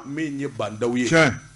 min ye bandaw ye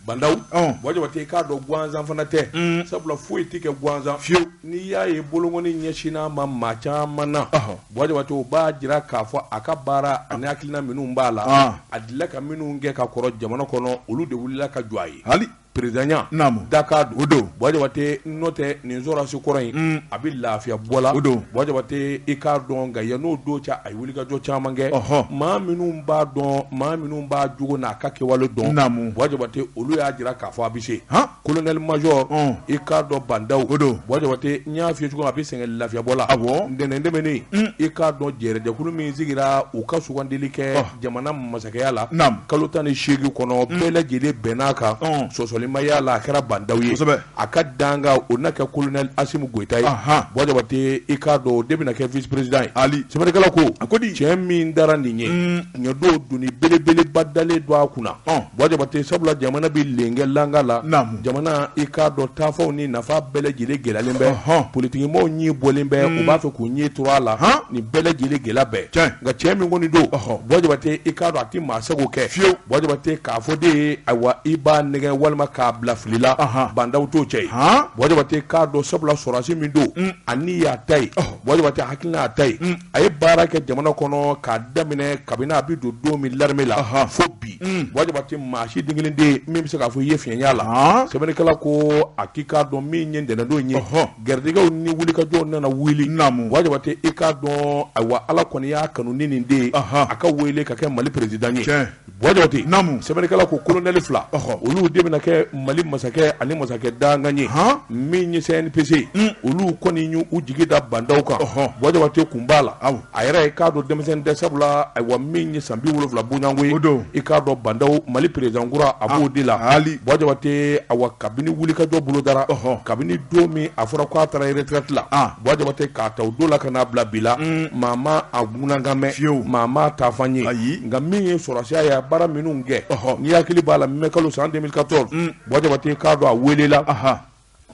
bandaw Buwa Jabate i k'a dɔn gansan fana tɛ mm. sabula foyi tɛ kɛ gansan fiyewu n'i y'a ye bolonkɔni ɲɛsin'a ma maa caman na Buwa Jabate o b'a jira k'a fɔ a ka baara ani hakilina minnu b'a la ah. a delila ka minnu kɛ ka kɔrɔ jamana kɔnɔ olu de wulila ka jɔ a ye perezidanya dakan o don Buwa Jabate n'o tɛ nin sɔrɔdasi kɔrɔ in a bɛ lafiya bɔ la Buwa Jabate i k'a dɔn nka yann'o don cɛ a ye wulikajɔ caman kɛ maa minnu b'a dɔn maa minnu b'a jogo n'a ka kɛwale dɔn Buwa Jabate olu y'a jira k'a fɔ a bɛ se kolonɛli majɔ i k'a dɔn bandaw Buwa Jabate n y'a f'i ye cogo a bɛ sɛgɛn lafiya bɔ la ntɛnɛn tɛmɛnen i k'a dɔn jɛrɛjɛkulu min sigira u ka sugandili kɛ jamana masakɛya la kalo tan ni seegin kɔnɔ bɛɛ lajɛlen bɛnn'a kan sɔsɔli ma y'a la a kɛra bandaw ye a ka dankan o na kɛ kolonɛli Asimi Goyita ye Buwa Jabate i k'a dɔn o de bɛna kɛ vice président ye haali sɛbɛnnikɛla ko a ko ni cɛ min tara nin ye ɲɔ don doni belebeleba dalen don a kunna Buwa Jabate sabula jamana bɛ lengɛlanga la jamana i k'a dɔn taafan ni nafan bɛɛ lajɛlen gɛlɛyalen bɛ ɔhɔn. politigimɔgɔw ɲin bɔlen bɛ u b'a fɛ k'u ɲin turu a la Han. nin bɛɛ lajɛlen gɛlɛya bɛɛ Tiɲɛ. nka cɛ min kɔni don Ɔhɔ. Buwa Jabate i k'a dɔn a tɛ maa sago kɛ Fiyewu. Buwa Jabate k'a fɔ de ye ayiwa i b'a nɛgɛ walima k'a bila fili la Ahan. bandaw t'o cɛ ye Han. Buwa Jabate k'a dɔn sabula sɔrɔdasi min don a ni y'a ta ye Ɔhɔ. Buwa Jabate hakilina y'a ta ye a ye baara kɛ jamana kɔnɔ k'a daminɛ kabini a bɛ don don min larame la fo bi mm. Buwa Jabate maa si den kelen tɛ min bɛ se k'a fɔ i ye fiɲɛ y'a la sɛbɛnnikɛla ko a k'i k'a dɔn min ye ntɛnɛndon ye garijɛgɛw ni wulikajɔw nana wuli naamu Buwa Jabate i k'a dɔn ayiwa ala kɔni y'a kanu nin in de a ka wele ka kɛ mali perezidan ye Buwa Jabate naamu sɛbɛnnikɛla ko kolonɛli fila olu de bɛna kɛ mali masakɛ ani masakɛ dankan ye hɔn min ye CNPC olu kɔni y'u jigi da bandaw kan hɔn Buwa Jabate kun b'a la a yɛrɛ i k'a dɔn denmisɛn tɛ sabula ayiwa min ye san bi wolonwula bɔɲɔgɔn ye i k'a dɔn bandaw mali perezidan kura a b'o de la haali Buwa Jabate awa kabini wulikajɔ bolodara ɔɔ kabini don min a fɔra k'a taara retraite la Buwa Jabate k'a ta o don la ka n'a bila bi la, un, maa ma a ŋunankan mɛn, fiyew, maa ma a taafan ye, ayi, nka min ye sɔrɔdasiya ye a baara minnu kɛ, ɔhɔ, n'i hakili b'a la mɛ kalo san 2014 un, Buwa Jabate i k'a dɔn a welela, anhan,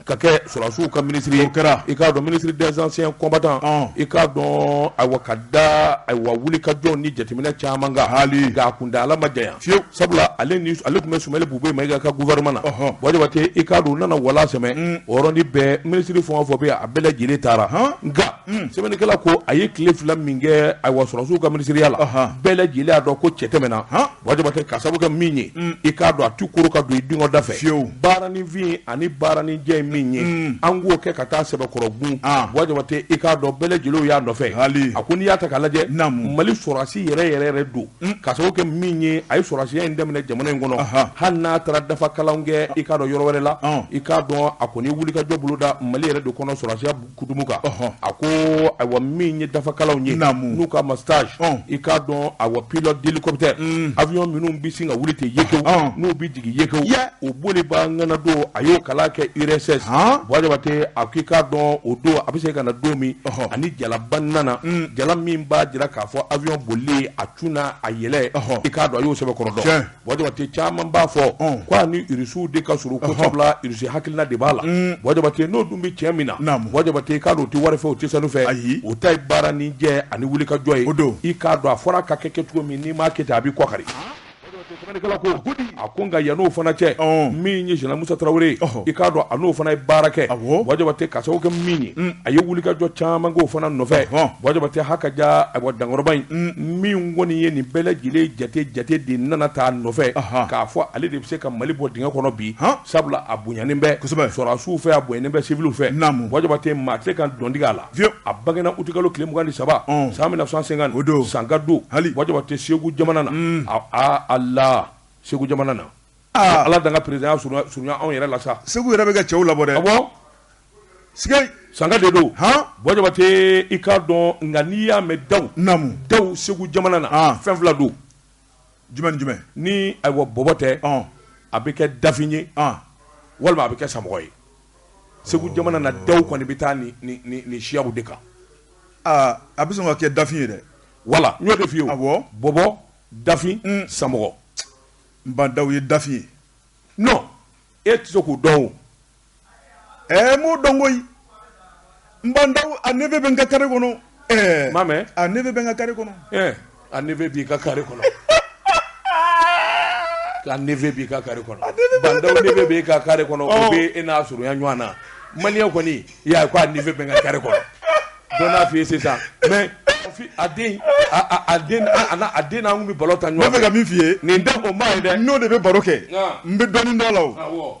ka kɛ sɔrɔdasiw ka minisiri ye, o kɛra, i k'a dɔn ministre des anciens combattants ɔn, i k'a dɔn ayiwa ka da ayiwa wulikajɔw ni jateminɛ caman kan, haali, nka a kuntaala ma janya fiyewu sabula ale ni ale tun bɛ Sumeyilu Bubɛyi Mayiga ka gouvernement na Buwa Jabate i k'a dɔn u nana o lasɛmɛ mm. o yɔrɔnin bɛɛ minisiri fɛn o fɛn bɛ yen a bɛɛ lajɛlen taara nka mm. sɛbɛnnikɛla ko a ye tile fila min kɛ ayiwa sɔrɔsiw ka minisiriya la bɛɛ lajɛlen y'a dɔn ko cɛ tɛ mɛɛn a Buwa Jabate ka sabu kɛ min ye mm. i k'a dɔn a tɛ kuru ka don i dungɔ da fɛ fiyewu baaraninfin ani baaraninjɛ ye min ye an k'o kɛ ka taa sɛbɛkɔrɔ kun ah. Buwa Jabate i k'a dɔn bɛɛ lajɛlen y'a nɔfɛ a ko n'i y'a ta k'a lajɛ mali sɔrɔsi yɛrɛ yɛrɛ yɛrɛ don Ka sababu kɛ min ye a ye sɔrɔdasiya in daminɛ jamana in kɔnɔ, anhan, hali n'a taara dafa kalanw kɛ i k'a dɔn yɔrɔ wɛrɛ la, ɔn, i k'a dɔn a kɔni ye wulikajɔ boloda Mali yɛrɛ de kɔnɔ sɔrɔdasiya hukumu kan, ɔhɔ, a ko ayiwa min ye dafa kalanw ye, naamu, n'u k'a ma stage, ɔn, i k'a dɔn ayiwa pilote d'hélicoptère, un, avion minnu bɛ sin ka wuli ten yekewu, ɔn, n'u bɛ yekewu yɛ o bolibaa ŋana don a y'o kalan kɛ URSS han Buwa Jabate a k'i k'a dɔn o don a bɛ segin ka na don min ɔhɔ a ni jalaba nana un jala min b'a jira k'a fɔ avion bolili a cun na a yɛlɛ ɔhɔ i k'a dɔn a y'o sɛbɛkɔrɔ dɔn tiɲɛ Buwa Jabate caman b'a fɔ ɔn ko a ni Irisiw de ka surun ko sabula Irisi hakilina de b'a la un Buwa Jabate n'o dun bɛ cɛ min na naamu Buwa Jabate i k'a dɔn o tɛ wari fɛ o tɛ sanu fɛ ayi o ta ye baara ni jɛ ani wulikajɔ ye o don i k'a dɔn a fɔra a ka kɛ kɛcogo min n'i m'a kɛ ten a b'i kɔkari a ko nka yan n'o fana cɛ min ye général musa tarawele i k'a dɔn a n'o fana ye baara kɛ buwa jabate ka sababu kɛ min ye mm. a ye wulikajɔ caman k'o fana nɔfɛ buwa jabate ha ka ja ayiwa dankɔrɔba in mm. min kɔni ye nin bɛɛ lajɛlen jate jate de nana taa nɔfɛ k'a fɔ ale de bɛ se ka mali bɔ dingɛ kɔnɔ bi sabula a bonyanen bɛ sɔrɔdasiw fɛ a bonyanen bɛ siwili fɛ buwa jabate maa tɛ ka dɔntigɛ a la Vieux a bangena utikalo tile mugan ni saba ɔn san 1950 o don sanka don hali Buwa Jabate Segu jamana na un aa Allah Segu jamana na aa Ala dan ka président ya surunya surunya anw yɛrɛ la sa Segu yɛrɛ bɛ ka cɛw labɔ dɛ awɔ sikei sanka de don han Buwa Jabate i k'a dɔn nka n'i y'a mɛn daw naamu daw Segu jamana na aa fɛn fila don jumɛn ni jumɛn ni ayiwa bɔbɔ tɛ ɔn a bɛ kɛ dafin ye ɔn walima a bɛ kɛ samɔgɔ ye segu jamana na daw kɔni bɛ taa ni ni ni ni siyaw de kan aa a bɛ sɔn ka kɛ dafin ye dɛ voilà n y'o de f'i ye awɔ bɔbɔ dafin mm. samɔgɔ ba ndaw ye dafin ye non e tɛ se k'o dɔn o ɛɛ m'o dɔn koyi ba ndaw a neveu bɛ n ka kare kɔnɔ ɛɛ ma mɛn a neveu bɛ n ka kare kɔnɔ ɛɛ a neveu b'i ka kare kɔnɔ a neveu b'i ka kare kɔnɔ ba ndaw neveu b'i ka kare kɔnɔ o oh. bɛ e n'a surunya ɲɔgɔn na maliyɛn kɔni i y'a ye ko a neveu bɛ n ka kare kɔnɔ dɔ n'a f'i ye sisan mais a den a den a den n'an kun bɛ balɔn tan ɲɔgɔn fɛ. n bɛ fɛ ka min f'i ye. nin tɛ o ma ye dɛ. n'o de bɛ baro kɛ. n bɛ dɔɔnin dɔn a la o.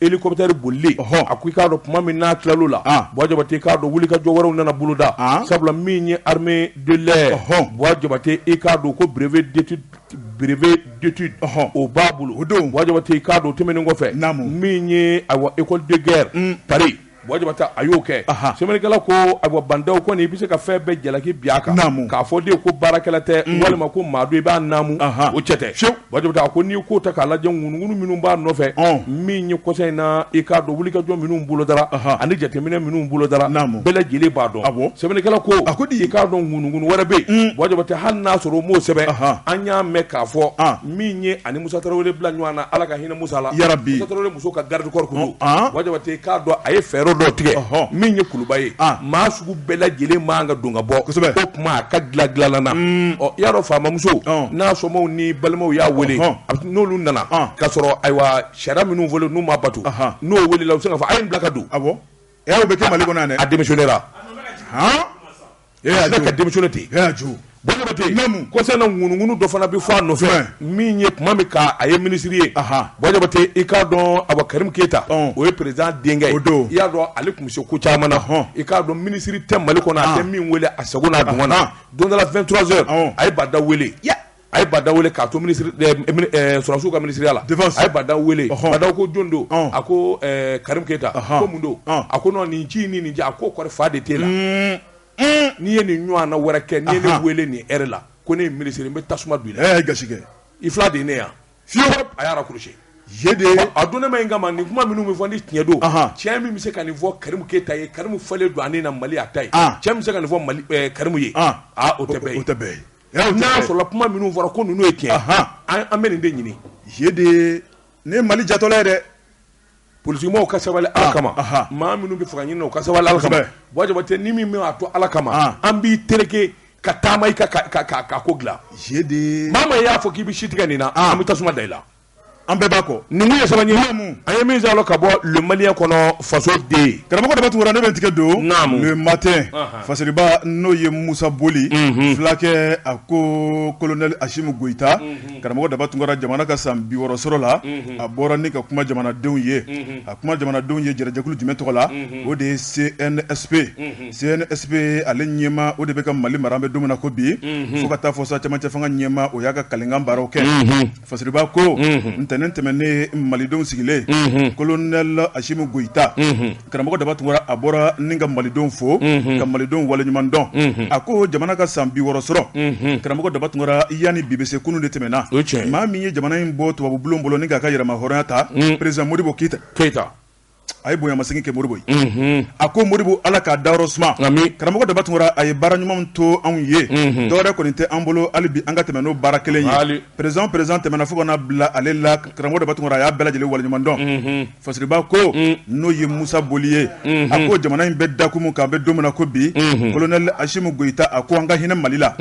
hélicoptère bolili Ɔhɔ. a ko i k'a dɔn tuma min n'a tilal'o la Ah. Buwa Jabate k'a dɔn wulikajɔ wɛrɛw nana boloda Ah. sabula min ye armée de l'air Ɔhɔ. Buwa Jabate i k'a dɔn ko brevet d'étude brevet d'étude Ɔhɔ. o b'a bolo O don. Buwa Jabate i k'a dɔn o tɛmɛnen kɔfɛ Naamu. min ye ayiwa école de guerre Paris Jabatɛ a y'o kɛ sɛbɛnnikɛla ko a ba ndaw kɔni i bɛ se ka fɛn bɛɛ jalaki bin a kan k'a fɔ de ko baarakɛla tɛ walima ko maa i b'a naamu o cɛ tɛ bwa jabatɛ a ko n'i ko ta k'a lajɛ ŋunuŋunu minnu b'a nɔfɛ min ye kɔ in na i k'a dɔn wulikajɔ minnu bolo dara ani jateminɛ minnu bolo dara an bɛɛ lajɛlen b'a dɔn a sɛbɛnnikɛla ko a ko di i k'a dɔn ŋunuŋunu wɛrɛ bɛ yen bwa jabatɛ hali n'a sɔrɔ o m'o sɛbɛn an y'a mɛn k'a fɔ min ye a ni musa tarawele bila ɲɔgɔn na ala ka hinɛ musa la yarabi musa tarawele muso ka garde corps ko bwa jabatɛ k'a dɔn a ye fɛɛrɛ dɔ tigɛ min ye kuluba ye maa sugu bɛɛ lajɛlen man kan ka don ka bɔ kosɛbɛ o tuma a ka dilan dilanla na ɔ i y'a dɔn faamamuso n'a somaaw ni balimaw y'a weele n'olu nana k ka sɔrɔ ayiwa sariya minnu fɔlen n'u ma bato n'o weelela u se ka fɔ a ye bila ka don a bɛ kɛ mali kɔnɔ a démissionner la ka denmuso ten ŋunuunu dɔ fana bɛ fɔ a nɔfɛ min ye tuma min a ye minisiri ye i k'a dɔn a kari keyita o ye perez denkɛ o don i y'a dɔn ale tun bɛ se ku caman hɔn i k'a dɔn minisiriri tɛ mali kɔnɔ a tɛ min weele a sagogo na don dɔla fɛn tz a ye bada wele a ye ba ndaw weele k'a to sɔrɔdasiw ka minisiriya la a ye ba ndaw weele ba ndaw ko jɔn don a ko karimu keyita ko mun don a ko nin ci ni nin a ko kɔrɔ fa de t'e la n'i ye nin ɲɔgɔnna wɛrɛ kɛ ni ne weele nin heure la ko ne minisiri n bɛ tasuma bi la ga i fila de ne yan fi a y'a raccrocher de ye a don ne ma nka nin kuma minnu bɛ fɔ ni tiɲɛ don cɛ min bɛ se ka nin fɔ karimu keyita ye karimu falen don ani na mali a ta ye cɛ min bɛ se ka nin fɔ karimu ye o tɛ n'a sɔrɔla kuma minnu fɔra ko ninnu ye tiɲɛ an bɛ nin de ɲini ze de ye ne ye mali jatɔla ye dɛ politigimɔgɔw ka sabali ala kama maa minnu bɛ fanga ɲini o ka sabali ala kama bwa jabatɛ n'i min mɛn a to ala kama an b'i tɛrɛkɛ ka taama i kan ka ko dilan ze de ye maa maa y'a fɔ k'i bɛ si tigɛ nin na an bɛ tasuma da i la an bɛɛ b'a kɔ nin ye saba ɲininmu a ye min sɔrɔ ka bɔ le malien kɔnɔ fasoden karamɔgɔ daba tunkara ne bɛ n tigɛ don le matin fasiriba n'o ye musa boli fulakɛ a ko kolonɛli asimi goyita karamɔgɔ daba tunkara jamana ka san bi wɔɔrɔ sɔrɔ la a bɔra ni ka kuma jamanadenw ye a kuma jamanadenw ye jɛrɛjɛkulu jumɛn tɔgɔ la o de ye CNSP CNSP ale ɲɛmaa o de bɛ ka mali mara an bɛ don min na ko bi fo ka taa fo sa camancɛ fanga ɲɛmaa o y'a ka kalikan baaraw kɛ Fasiriba ko ntɛnɛn tɛmɛnen malidenw sigilen kolonɛli asimi goyita karamɔgɔ daba tunkara a bɔra ni ka malidenw fo ka malidenw waleɲumandɔn a ko jamana ka san bi wɔɔrɔ sɔrɔ karamɔgɔ daba tunkara yani bi bɛ se kunun de tɛmɛna maa min ye jamana in bɔ tubabu bulon bolo ni k'a ka yɛrɛmahɔrɔnya ta peresidan modibo keyita a ye bonyamasegin kɛ modibo ye mhm. a ko modibo ala k'a dayɔrɔ suma karamɔgɔ daba tunkara a ye baara ɲumanw to anw ye mhm. dɔwɛrɛ kɔni tɛ an bolo hali bi an ka tɛmɛ n'o baara kelen ye président président tɛmɛna fo ka na bila ale la karamɔgɔ daba tunkara a y'a bɛɛ lajɛlen waleɲumandɔn mhm. fasiriba ko mm. n'o ye musa boli ye a ko jamana in bɛ dakun min kan an bɛ don min na ko bi colonel asimu goyita a ko an ka hinɛ mali la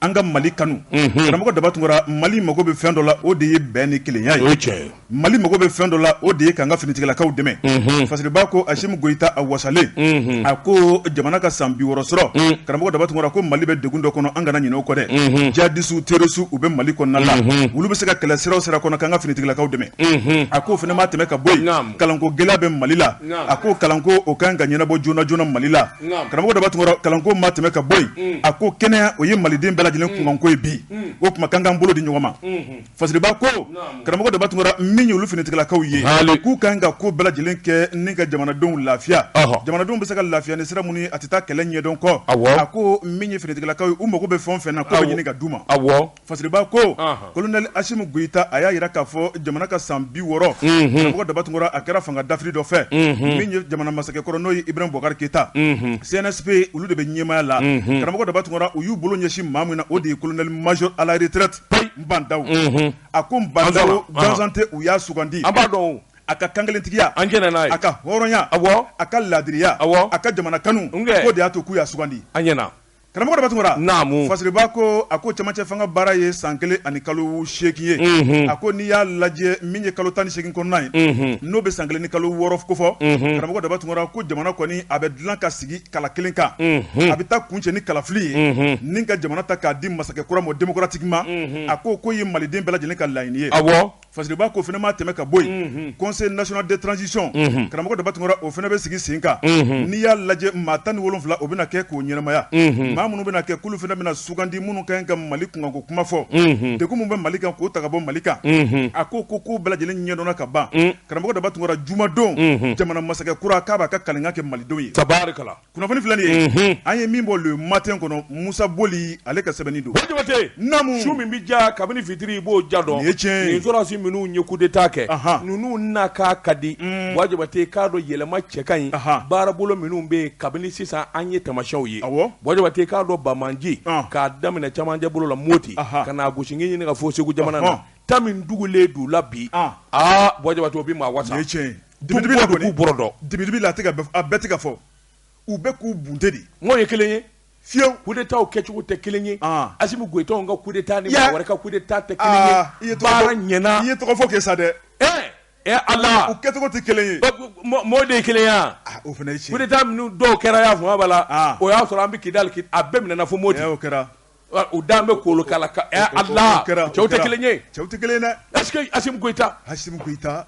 an ka mali kanu karamɔgɔ daba tunkara mali mago bɛ fɛn dɔ la o de ye bɛn ni kelenya ye mali mago bɛ fɛn dɔ la o de ye k'an ka finitigilakaw dɛmɛ fasiriba ko asimu goyita a wasalen a ko jamana ka san bi wɔɔrɔ sɔrɔ karamɔgɔ daba tunkara ko mali bɛ degun dɔ kɔnɔ an kana ɲinɛ o kɔ dɛ jihadisiw terɔrisiw u bɛ mali kɔnɔna la olu bɛ se ka kɛlɛ sira o sira kɔnɔ k'an ka finitigilakaw dɛmɛ a ko o fana ma tɛmɛ ka bɔ yen kalanko gɛlɛya bɛ mali la a ko kalanko o ka kan ka ɲɛnabɔ joona joona mali la karamɔgɔ daba tunkara kalanko ma tɛmɛ ka bɔ yen a ko kɛnɛya o ye maliden bɛɛ lajɛlen kunkanko ye bi o kuma kan k'an bolo di ɲɔgɔn ma fasiriba ko karamɔgɔ daba tunkara min ye olu finitigilakaw ye k'u kan ka ko bɛɛ lajɛlen kɛ ni ka jamanadenw lafiya jamanadenw bɛ se ka lafiya ni sira minnu ye a tɛ taa kɛlɛ ɲɛdɔn kɔ a ko min ye finitigilakaw ye u mago bɛ fɛn o fɛn na k'o bɛɛ ɲini ka d'u ma Fasiriba ko colonel asimi goyita a y'a yira k'a fɔ jamana ka san bi wɔɔrɔ karamɔgɔ daba tunkara a kɛra fanga dafiri dɔ fɛ min ye jamana masakɛ kɔrɔ n'o ye ibrahim bubakari keyita CNSP olu de bɛ ɲɛmaaya la karamɔgɔ daba tunkara u y'u bolo ɲɛsin maa min na o de ye colonel major à la retraite ba ndaw a ko ba ndaw gansan tɛ u y'a sugandi an b'a dɔn a ka kankelentigiya an'a ka hɔrɔnya a ka laadiriya a ka jamana kanu k'o de y'a to k'u y'a sugandi an ɲɛna Karamɔgɔ daba tunkara naamu fasiriba ko a ko camancɛ fanga baara ye san kelen ani kalo seegin ye a ko n'i y'a lajɛ min ye kalo tan ni seegin kɔnɔna ye n'o bɛ san kelen ni kalo wɔɔrɔ kofɔ karamɔgɔ daba tunkara ko jamana kɔni a bɛ dilan ka sigi kala kelen kan a bɛ taa kuncɛ ni kalafili ye ni ka jamana ta k'a di masakɛ kura ma démocratiquement a ko k'o ye maliden bɛɛ lajɛlen ka laɲini ye Fasiriba ko o fana ma tɛmɛ ka bɔ yen conseil national de transition karamɔgɔ daba tunkara o fana bɛ sigi sen kan n'i y'a lajɛ maa tan ni wolonfila o bɛna kɛ k'o ɲɛnamaya maa minnu bɛna kɛ k'olu fana bɛna sugandi minnu ka kan ka mali kunkanko kuma fɔ degun min bɛ mali kan k'o ta ka bɔ mali kan a ko ko k'o bɛɛ lajɛlen ɲɛdɔnna ka ban karamɔgɔ daba tunkara jumadon jamana masakɛ kura k'a b'a ka kalikan kɛ malidenw ye tari Kunnafoni filɛ nin ye, unhun, an ye min bɔ le matin kɔnɔ Musa Boli ale ka sɛbɛnni don, Buwa Jabate, naamu, su min bɛ diya kabini fitiri i b'o diya dɔn, nin ye tiɲɛ ye, nin sɔrɔdasi minnu ye coup d'Etat kɛ, anhan, ninnu na k'a ka di, un, Buwa Jabate i k'a dɔn yɛlɛma cɛ ka ɲi, anhan, baarabolo minnu bɛ yen kabini sisan an ye tamasiyɛnw ye, awɔ, Buwa Jabate i k'a dɔn Bamanji, an, k'a daminɛ cɛmancɛ bolo la Moti, anhan, ka n'a gosi ngingi ɲini ka fo Segu jamana na, ɔnhɔn, ta min tugulen don u la bi, an, aa Buwa Jabate o bɛ maa wasa, nin ye tiɲɛ ye. Dibi la k'u bɔ dɔn dibi la a bɛɛ ka fɔ u bɛ k'u bunte de n'o ye kelen ye fiyewu coup d'État kɛcogo tɛ kelen ye Asimi Goyita ka coup d'État ni maa wɛrɛ ka coup d'État tɛ kelen ye i ye ɲ ye tɔgɔ fɔ kɛ sa dɛ ɛ ɛ ala u kɛcogo tɛ kelen ye mɔɔ de ye kelenya o fana ye tiɲɛ coup d'État minnu dɔw kɛra y'a fɔ la o y'a sɔrɔ an bɛ Kidali a bɛɛ minɛna fo Moti o kɛra u dan bɛ kolo kala cɛw tɛ kelen ye cɛw tɛ kelen ye dɛ Goyita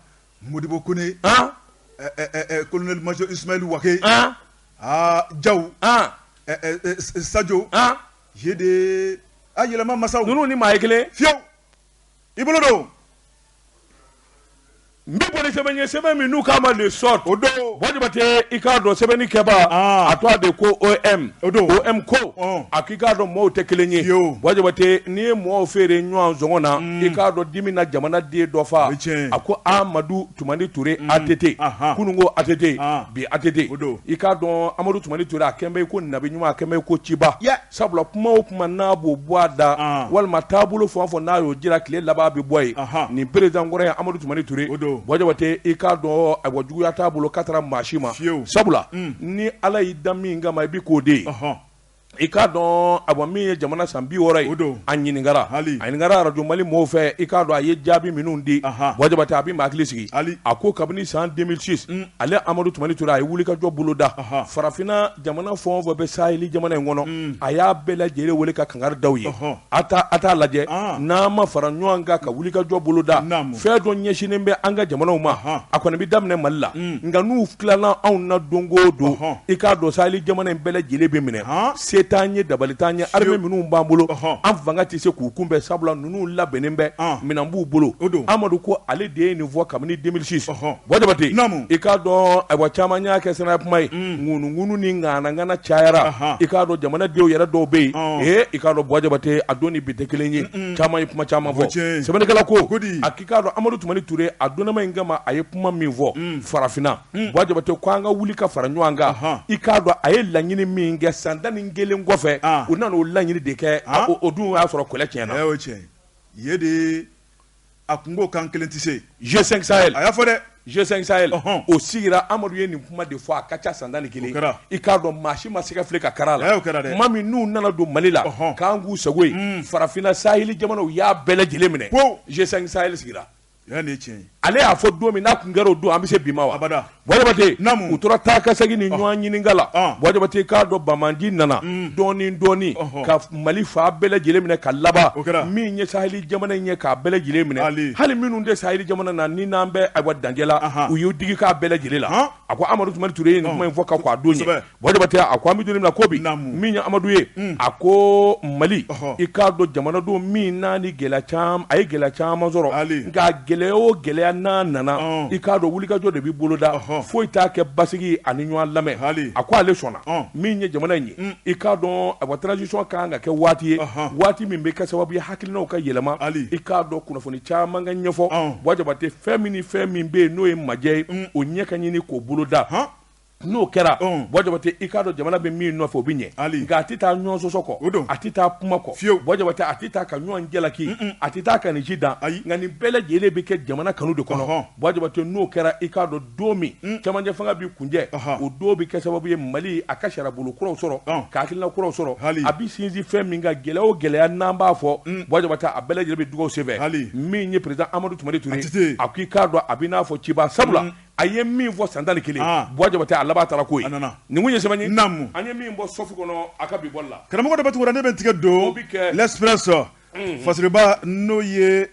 Modibo Kone, an, ɛ ɛ ɛ ɛ colonel major Ismail Wake, an, aa Jaw, an, ɛ ɛ ɛ Sajo, an, je de a yɛlɛma masaw, ninnu ni maa ye kelen ye fiyewu, i bolo don. N bɛ bɔ ni sɛbɛn ye sɛbɛn min n'u k'a ma L'Essor o don Buwa Jabate i k'a dɔn sɛbɛnni kɛbaa, an, a tɔgɔ de ko OM, o don, OM ko, ɔn, a i k'a dɔn mɔgɔw tɛ kelen ye Buwa Jabate n'i ye mɔgɔw feere ɲɔgɔn sɔngɔ na mm. i k'a dɔn dimi na jamana den dɔ fa a ko Amadu Tumani Ture mm. ATT kunun ko ATT ah. bi ATT i k'a dɔn Amadu Tumani Ture a kɛlen bɛ i ko nabi ɲuman a kɛlen bɛ i ko ciba sabula kuma o kuma n'a b'o bɔ a da ah. walima taabolo fɛn o fɛn n'a y'o jira tile laban bɛ bɔ yen nin perezidan kɔrɔ ye Amadu Tumani Ture Buwa Jabate i k'a dɔn Buwa juguya t'a bolo k'a taara maa si ma sabula mm. ni Ala y'i da min kama i bɛ k'o de ye I k'a dɔn a min ye jamana san bi wɔɔrɔ ye don a ɲininkara a ɲininkara Arajo Mali mɔgɔw fɛ i k'a dɔn a ye jaabi minnu di Buwa Jabate a bɛ maa hakili sigi a ko kabini san 2006 ale Amadu Tumani Ture a ye wulikajɔ boloda farafinna jamana fɛn o fɛn bɛ Saheli jamana in kɔnɔ a y'a bɛɛ lajɛlen weele ka kangari da u ye A taa a t'a lajɛ Ɔn! n'an ma fara ɲɔan kan ka wulikajɔ boloda, naamu, fɛn dɔ ɲɛsinnen bɛ an ka jamanaw ma, ɔnhɔn, a kɔni bɛ daminɛ Mali la, un, nka n'u tilala anw na don o don, ɔnhɔn, i k'a dɔn Saheli jamana in bɛɛ lajɛlen bɛ minɛ, han, se t'an ye dabali t'an ye, armée minnu b'an bolo, ɔnhɔn, an fanga tɛ se k'u kunbɛn sabula ninnu labɛnnen bɛ, ɔn, minɛn b'u bolo, o don, Amadu ko ale de ye nin fɔ kabini 2006, ɔnhɔn. Buwa Jabate, naamu, i k'a dɔn ayiwa caman y'a kɛ sira kuma ye, un, ŋunuŋunu ni ŋanaŋana cayara, anhan, i k'a dɔn jamana denw yɛrɛ dɔw bɛ yen, ɔn, ee i k'a dɔn Buwa Jabate a don ni bi tɛ kelen ye, un un, caman ye kuma caman fɔ, o ye tiɲɛ ye, sɛbɛnnikɛla ko, ko di, a k'i k'a dɔn Amadu Tumani Ture a donnama in kama a ye kuma min fɔ, un, farafinna, un, Buwa Jabate ko an ka wuli ka fara ɲɔgɔn kan, anhan, i k'a dɔn a ye laɲini min kɛ san tan ni kelen kɔfɛ, an, u nana o laɲini de kɛ, an, o dun o y'a sɔrɔ kɛlɛ tiɲɛna, ee o ye tiɲɛ ye, yen de a tun ko k'an kelen tɛ se G5 Sahel a y'a fɔ dɛ G5 Sahel o sigira Amadu ye nin kuma de fɔ a ka ca san tan ni kelen i k'a dɔn maa si ma se ka fili ka kari a la tuma min n'u nana don Mali la k'an k'u sago ye hmm. farafinna Saheli jamanaw y'a bɛɛ lajɛlen minɛ G5 Sahel sigira ale y'a fɔ don min n'a tun kɛra o don an bɛ se bi ma wa abada Buwa jabate u tora taa ka segin ni ɲɔgɔn ɲininka la buwa jabate k'a dɔn bandiw nana dɔɔnin dɔɔnin ka mali fan bɛɛ lajɛlen minɛ ka laban min ye saheli jamana in ye k'a bɛɛ lajɛlen minɛ hali minnu tɛ saheli jamana na ni n'an bɛ a wa dancɛ la u y'u digi k'a bɛɛ lajɛlen la a ko amadu tumani ture ye nin kuma in fɔ k'a don Jabate a ko an bɛ don min na ko bi min ye amadu ye a ko mali i k'a dɔn jamanadenw min n'a ni gɛlɛya a ye gɛlɛya caman sɔrɔ nka gɛlɛya o gɛlɛya n'a nana i k'a dɔn wulikajɔ de bɛ boloda foyi t'a kɛ basigi ani ɲɔgɔn lamɛn hali a ko ale sɔnna min ye jamana in ye i k'a dɔn a transition ka kan ka kɛ waati ye waati min bɛ kɛ sababu ye hakilinaw ka yɛlɛma hali i k'a dɔn kunnafoni caman ka ɲɛfɔ buwa jabate fɛn min fɛn min bɛ yen n'o ye majɛ ye o ɲɛ ka ɲini k'o boloda n'o kɛra buwa jabate i k'a dɔn jamana bɛ min nɔfɛ o bɛ ɲɛ nka a tɛ taa ɲɔgɔn sɔsɔ kɔ a tɛ taa kuma kɔ fiye buwa jabate a tɛ taa ka ɲɔgɔn jalaki a tɛ taa ka nin ji dan nka nin bɛɛ lajɛlen bɛ kɛ jamana kanu de kɔnɔ buwa jabate n'o kɛra i k'a dɔn don min cɛmancɛ fanga bɛ kuncɛ o don bɛ kɛ sababu ye mali a ka sariyabolo kuraw sɔrɔ ka hakilina kuraw sɔrɔ a bɛ sinsin fɛn min kan gɛlɛya o gɛlɛya n'an b'a fɔ buwa jabate a bɛɛ lajɛlen bɛ dugawu senfɛ min ye président amadu tumani ture a k'i k'a dɔn a bɛ n'a fɔ ciba sabula a ye min fɔ san tan ni kelen buwa jabate a laban taara ko ye numu ye sɛbɛn namu an ye min bɔ Soft kɔnɔ a ka bi bɔli la karamɔgɔ daba tunkara ne bɛ tigɛ don Express rɔ fasiriba n'o ye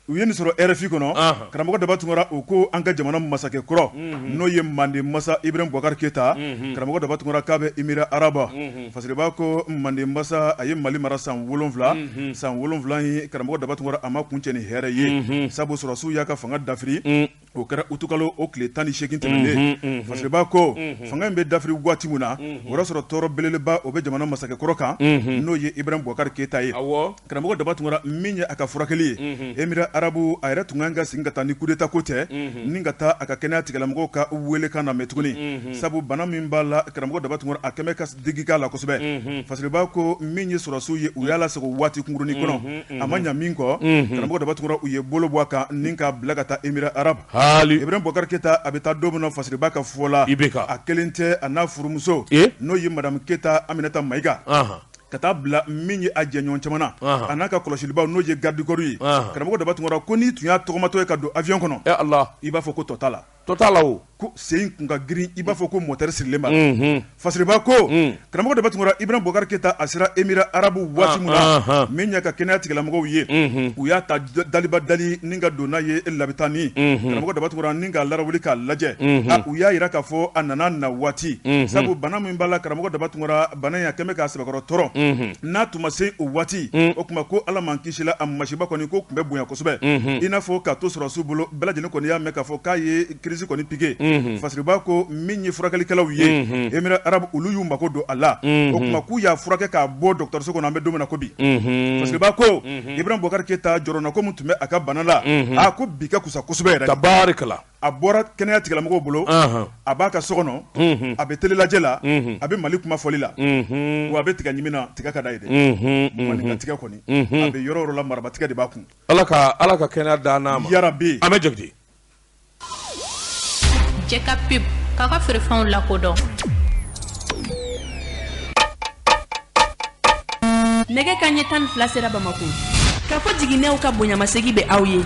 u ye nin sɔrɔ RFI kɔnɔ karamɔgɔ daba tunkara u ko an ka jamana masakɛ kɔrɔ n'o ye manden masa ibrahim bubakari keyita karamɔgɔ daba tunkara k'a bɛ Emirats Arabes fasiriba ko manden masa a ye mali mara san wolonwula san wolonwula ye karamɔgɔ daba tunkara a ma kuncɛ ni hɛrɛ ye sabu sɔrɔsiw y'a ka fanga dafiri O kɛra utukalo o tile tan ni segin tɛmɛnen fasiriba ko fanga in bɛ dafiri waati min na o y'a sɔrɔ tɔɔrɔ belebeleba o bɛ jamana masakɛkɔrɔ kan n'o ye ibrahim bubakari keyita ye karamɔgɔ daba tunkara min ye a ka furakɛli ye Emirats Arabes a yɛrɛ tun kan ka segin ka taa ni coup d'état ko tɛ ni ka taa a ka kɛnɛya tigilamɔgɔw ka weelekan namɛn tuguni sabu bana min b'a la karamɔgɔ daba tunkara a kɛmɛ ka digi k'a la kosɛbɛ unhun fasiriba ko min ye sɔrɔsiw ye u y'a lasago waati kunkuruni kɔnɔ unhun unhun a ma ɲa min kɔ unhun karamɔgɔ daba tunkara u ye bolo bɔ a kan ni k'a bila ka taa Emirats Arabes haali Ibrahim Boubacar Keita a bɛ taa don min na Fasiriba ka fɔ la IBK a kelen tɛ a n'a furumuso ee n'o ye madame Keita Aminata Maiga anhan ka taa bila min ye a jɛɲɔɔn caman na anhan a n'a ka kɔlɔsilibaw n'o ye garde du corps ye anhan karamɔgɔ daba tunkara ko n'i tun y'a tɔgɔmatɔ ye ka don avion kɔnɔ e Ala i b'a fɔ ko tɔ t'a la To t'a la ko sen tun ka girin i b'a fɔ ko motɛri sirilen ma fasiriba ko karamɔgɔ daba tunkara ibrahim bubakari keyita a sera Emirats Arabes waati min na min y'a ka kɛnɛya tigilamɔgɔw ye u y'a ta daliba dali ni ka don n'a ye labitani karamɔgɔ daba tunkara ni k'a lawuli k'a lajɛ u y'a jira k'a fɔ a nana na waati sabu bana min b'a la karamɔgɔ daba tunkara bana in a kɛmɛ k'a sɛbɛkɔrɔ tɔɔrɔ n'a tun ma se o waati o tuma ko ala m'an kisi la a masiba kɔni ko tun bɛ bonya yan kosɛbɛ i n'a fɔ ka to sɔrɔdasiw bolo bɛɛ lajɛlen kɔni y'a mɛn k'a fɔ k'a ye crise kɔni piqué fasiriba ko min ye furakɛlikɛlaw ye Émirats Arabes olu y'u mako don a la o tuma k'u y'a furakɛ k'a bɔ dɔgɔtɔrɔso kɔnɔ an bɛ don min na ko bi fasiriba ko Ibrahim Boubacar Keita jɔrɔnako min tun bɛ a ka bana la a ko bi ka kusa kosɛbɛ yɛrɛ tabarikala a bɔra kɛnɛya tigilamɔgɔw bolo a b'a ka so kɔnɔ a bɛ tele lajɛ la a bɛ mali kuma fɔli la wa a bɛ tiga ɲimi na tiga ka d'a ye dɛ maninka tiga kɔni a bɛ yɔrɔ o yɔrɔ la maraba tiga de b'a kun ala ka ala ka kɛnɛya d'an n'a ma yarabi an bɛ jate cɛ ka pe ka ka feerefɛnw lakodɔn nɛgɛ kanɲɛ tan ni fila sera bamakɔ Kafo Jiginɛw ka bonyamasegin bɛ aw ye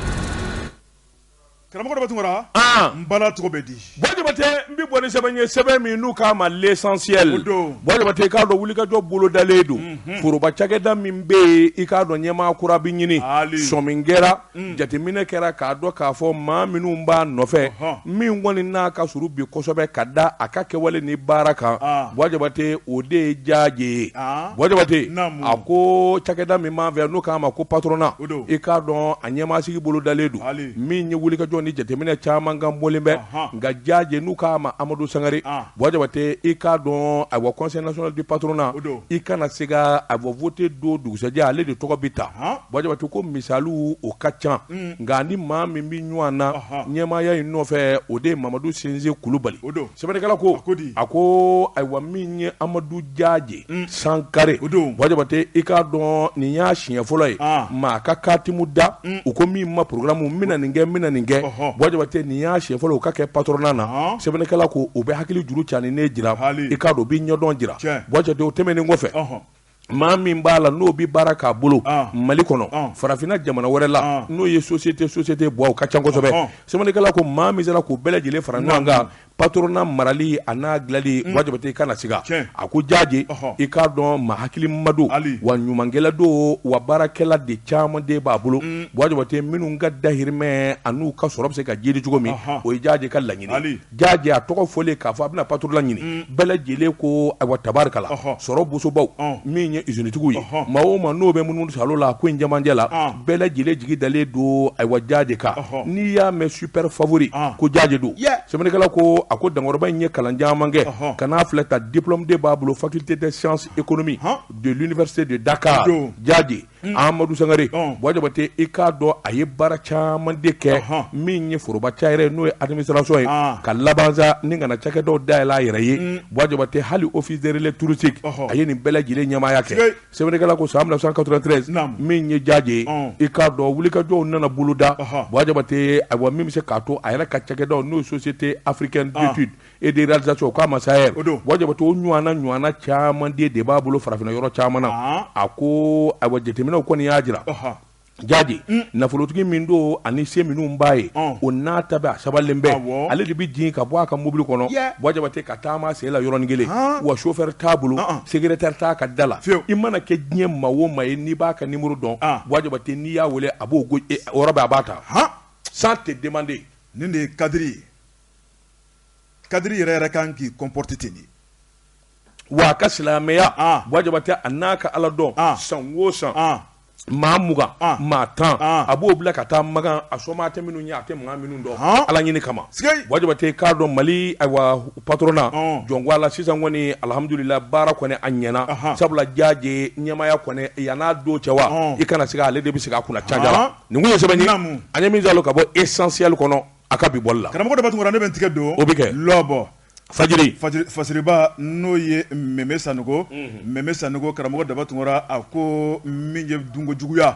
Karamɔgɔ Daba Tunkara, an, n bala tɔgɔ bɛ di, Bɔ Jabate, n bɛ bɔ ni sɛbɛn ye sɛbɛn min n'u k'a ma l'essentiel, o don, Bɔ Jabate i k'a dɔn wulikajɔ bolodalen don, unhun, foroba cakɛda min bɛ yen i k'a dɔn ɲɛmaa kura bɛ ɲini, haali, sɔmin kɛra, un, jateminɛ kɛra k'a dɔn k'a fɔ maa minnu b'a nɔfɛ, ɔhɔ, min kɔni n'a ka surun bi kosɛbɛ ka da a ka kɛwale ni baara kan, aa, Bɔ Jabate o de ye Jaaje ye, aa, Bɔ Jabate, naamu, a ko cakɛda min b'an fɛ yan n'u k'a ma ko patronat i k'a dɔn a ɲɛmaasigi bolodalen don min ye wulikajɔ ni jateminɛ caman kan bɔlen bɛ nka jaaje n'u k'a ma amadu sangare buwa jabate i k'a dɔn ayiwa conseil national du patronat i kana siga awa vote don dugusɛjɛ ale de tɔgɔ bɛ ta buwa jabate ko misaliw o ka ca nka a ni maa min bɛ ɲɔgɔn na ɲɛmaaya in nɔfɛ o de ye mamadu sinsi kulubali sɛbɛnnikɛla ko a ko ayiwa min ye amadu jaaje mm. sankare o don buwa jabate i k'a dɔn nin y'a siɲɛ fɔlɔ ye ah. maa ka katimu da mm. u ko min ma programme n bɛna nin kɛ n bɛna nin kɛ buwa jabate nin y'a siɲɛ fɔlɔ u ka kɛ patronat na ah. sɛbɛnnikɛla ko o bɛ hakili juru jan de jira i k'a dɔn o bɛ ɲɛdɔn jira buwa jabate o tɛmɛnen kɔfɛ maa min b'a la n'o bɛ baara k'a bolo ah. mali kɔnɔ ah. farafinna jamana wɛrɛ la ah. n'o ye société société bɔ o ka ca kosɛbɛ sɛbɛnnikɛla ko maa min sera k'u bɛɛ lajɛlen fara ɲɔgɔn kan patronat marali a n'a dilali mm. buwa jabate i kana siga a ko jaaje i k'a dɔn maa hakilima don wa ɲumankɛla don wa baarakɛla de caman de b'a bolo mm. buwa jabate minnu ka dahirimɛ an'u ka sɔrɔ bɛ se ka jiidi cogo min o ye jaaje ka laɲini jaaje a tɔgɔ fɔlen k'a fɔ a bɛna patronat ɲini mm. bɛɛ lajɛlen ko ayiwa tabarikala sɔrɔ bosobaw min ye izinitigiw ye maa o maa n'o bɛ munumunu salo la ko in jamajɛ la bɛɛ lajɛlen jigi dalen don ayiwa jaaje kan n'i y'a mɛn super favori ko jaaje don sɛbɛnnikɛla ko a ko dankɔrɔba in ye kalan caman kɛ ka n'a filɛ ta diplôme de b'a bolo faculté des sciences économiques de l'université de Dakar jaaje Amadu Sangare Buwa Jabate i k'a dɔn a ye baara caman de kɛ min ye foroba ca yɛrɛ n'o ye administration ye ka laban sa ni ka na cakɛdaw dayɛlɛ a yɛrɛ ye Buwa Jabate hali office des relais touristiques a ye nin bɛɛ lajɛlen ɲɛmaaya kɛ. sɛbɛnnikɛla ko san 1993 Naam. min ye jaaje ye Ɔn. i k'a dɔn wulikajɔw nana boloda Ɔhɔ. Buwa Jabate ayiwa min bɛ se k'a to a yɛrɛ ka cakɛdaw n'o ye société africaine Ɔn. d'étude et de réalisation k'a ma SAER O don. Buwa Jabate o ɲɔana ɲɔana caman de de b'a bolo farafinna yɔrɔ caman na Ɔn. a ko ayiwa jateminɛw kɔni y'a jira Ɔhɔ. jaaje mm. nafolotigi min don ani se minnu b'a ye mm. o n'a ta bɛɛ a sabalen bɛ ale de bɛ jigin ka bɔ a ka mobili kɔnɔ Buwa Jabate ka taama sen la yɔrɔnin kelen wa chauffeur t'a bolo secrétaire t'a ka da la i mana kɛ diɲɛ maa o maa ye n'i b'a ka numéro dɔn Buwa Jabate n'i y'a wele a b'o e, o yɔrɔ bɛɛ a b'a ta sans te demander nin de ye cadre ye cadre yɛrɛ yɛrɛ kan k'i comporter ten de wa a ka silamɛya ah. Buwa Jabate a n'a ka ala dɔn ah. san o san ah. maa mugan maa tan a b'o bila ka taa Makan a sɔma tɛ minnu ye a tɛ maa minnu dɔn ala ɲini kama Buwa Jabate k'a dɔn mali ayiwa patronat jɔnkɔ la sisan kɔni alihamudulila baara kɔni a ɲɛna sabula jaaje ɲɛmaaya kɔni yann'a don cɛ wa i kana sigi ale de bɛ sigi a kunna caja la nin kun ye sɛbɛn ye an ye min sɔrɔ ka bɔ Essentiel kɔnɔ a ka bi bɔli la karamɔgɔ daba tunkara ne bɛ n tigɛ don o bɛ kɛ lɔbɔ Fajiri fajiriba n'o ye Mɛmɛ Sanɔgɔ Mɛmɛ Sanɔgɔ karamɔgɔ daba tunkara a ko min ye dunko juguya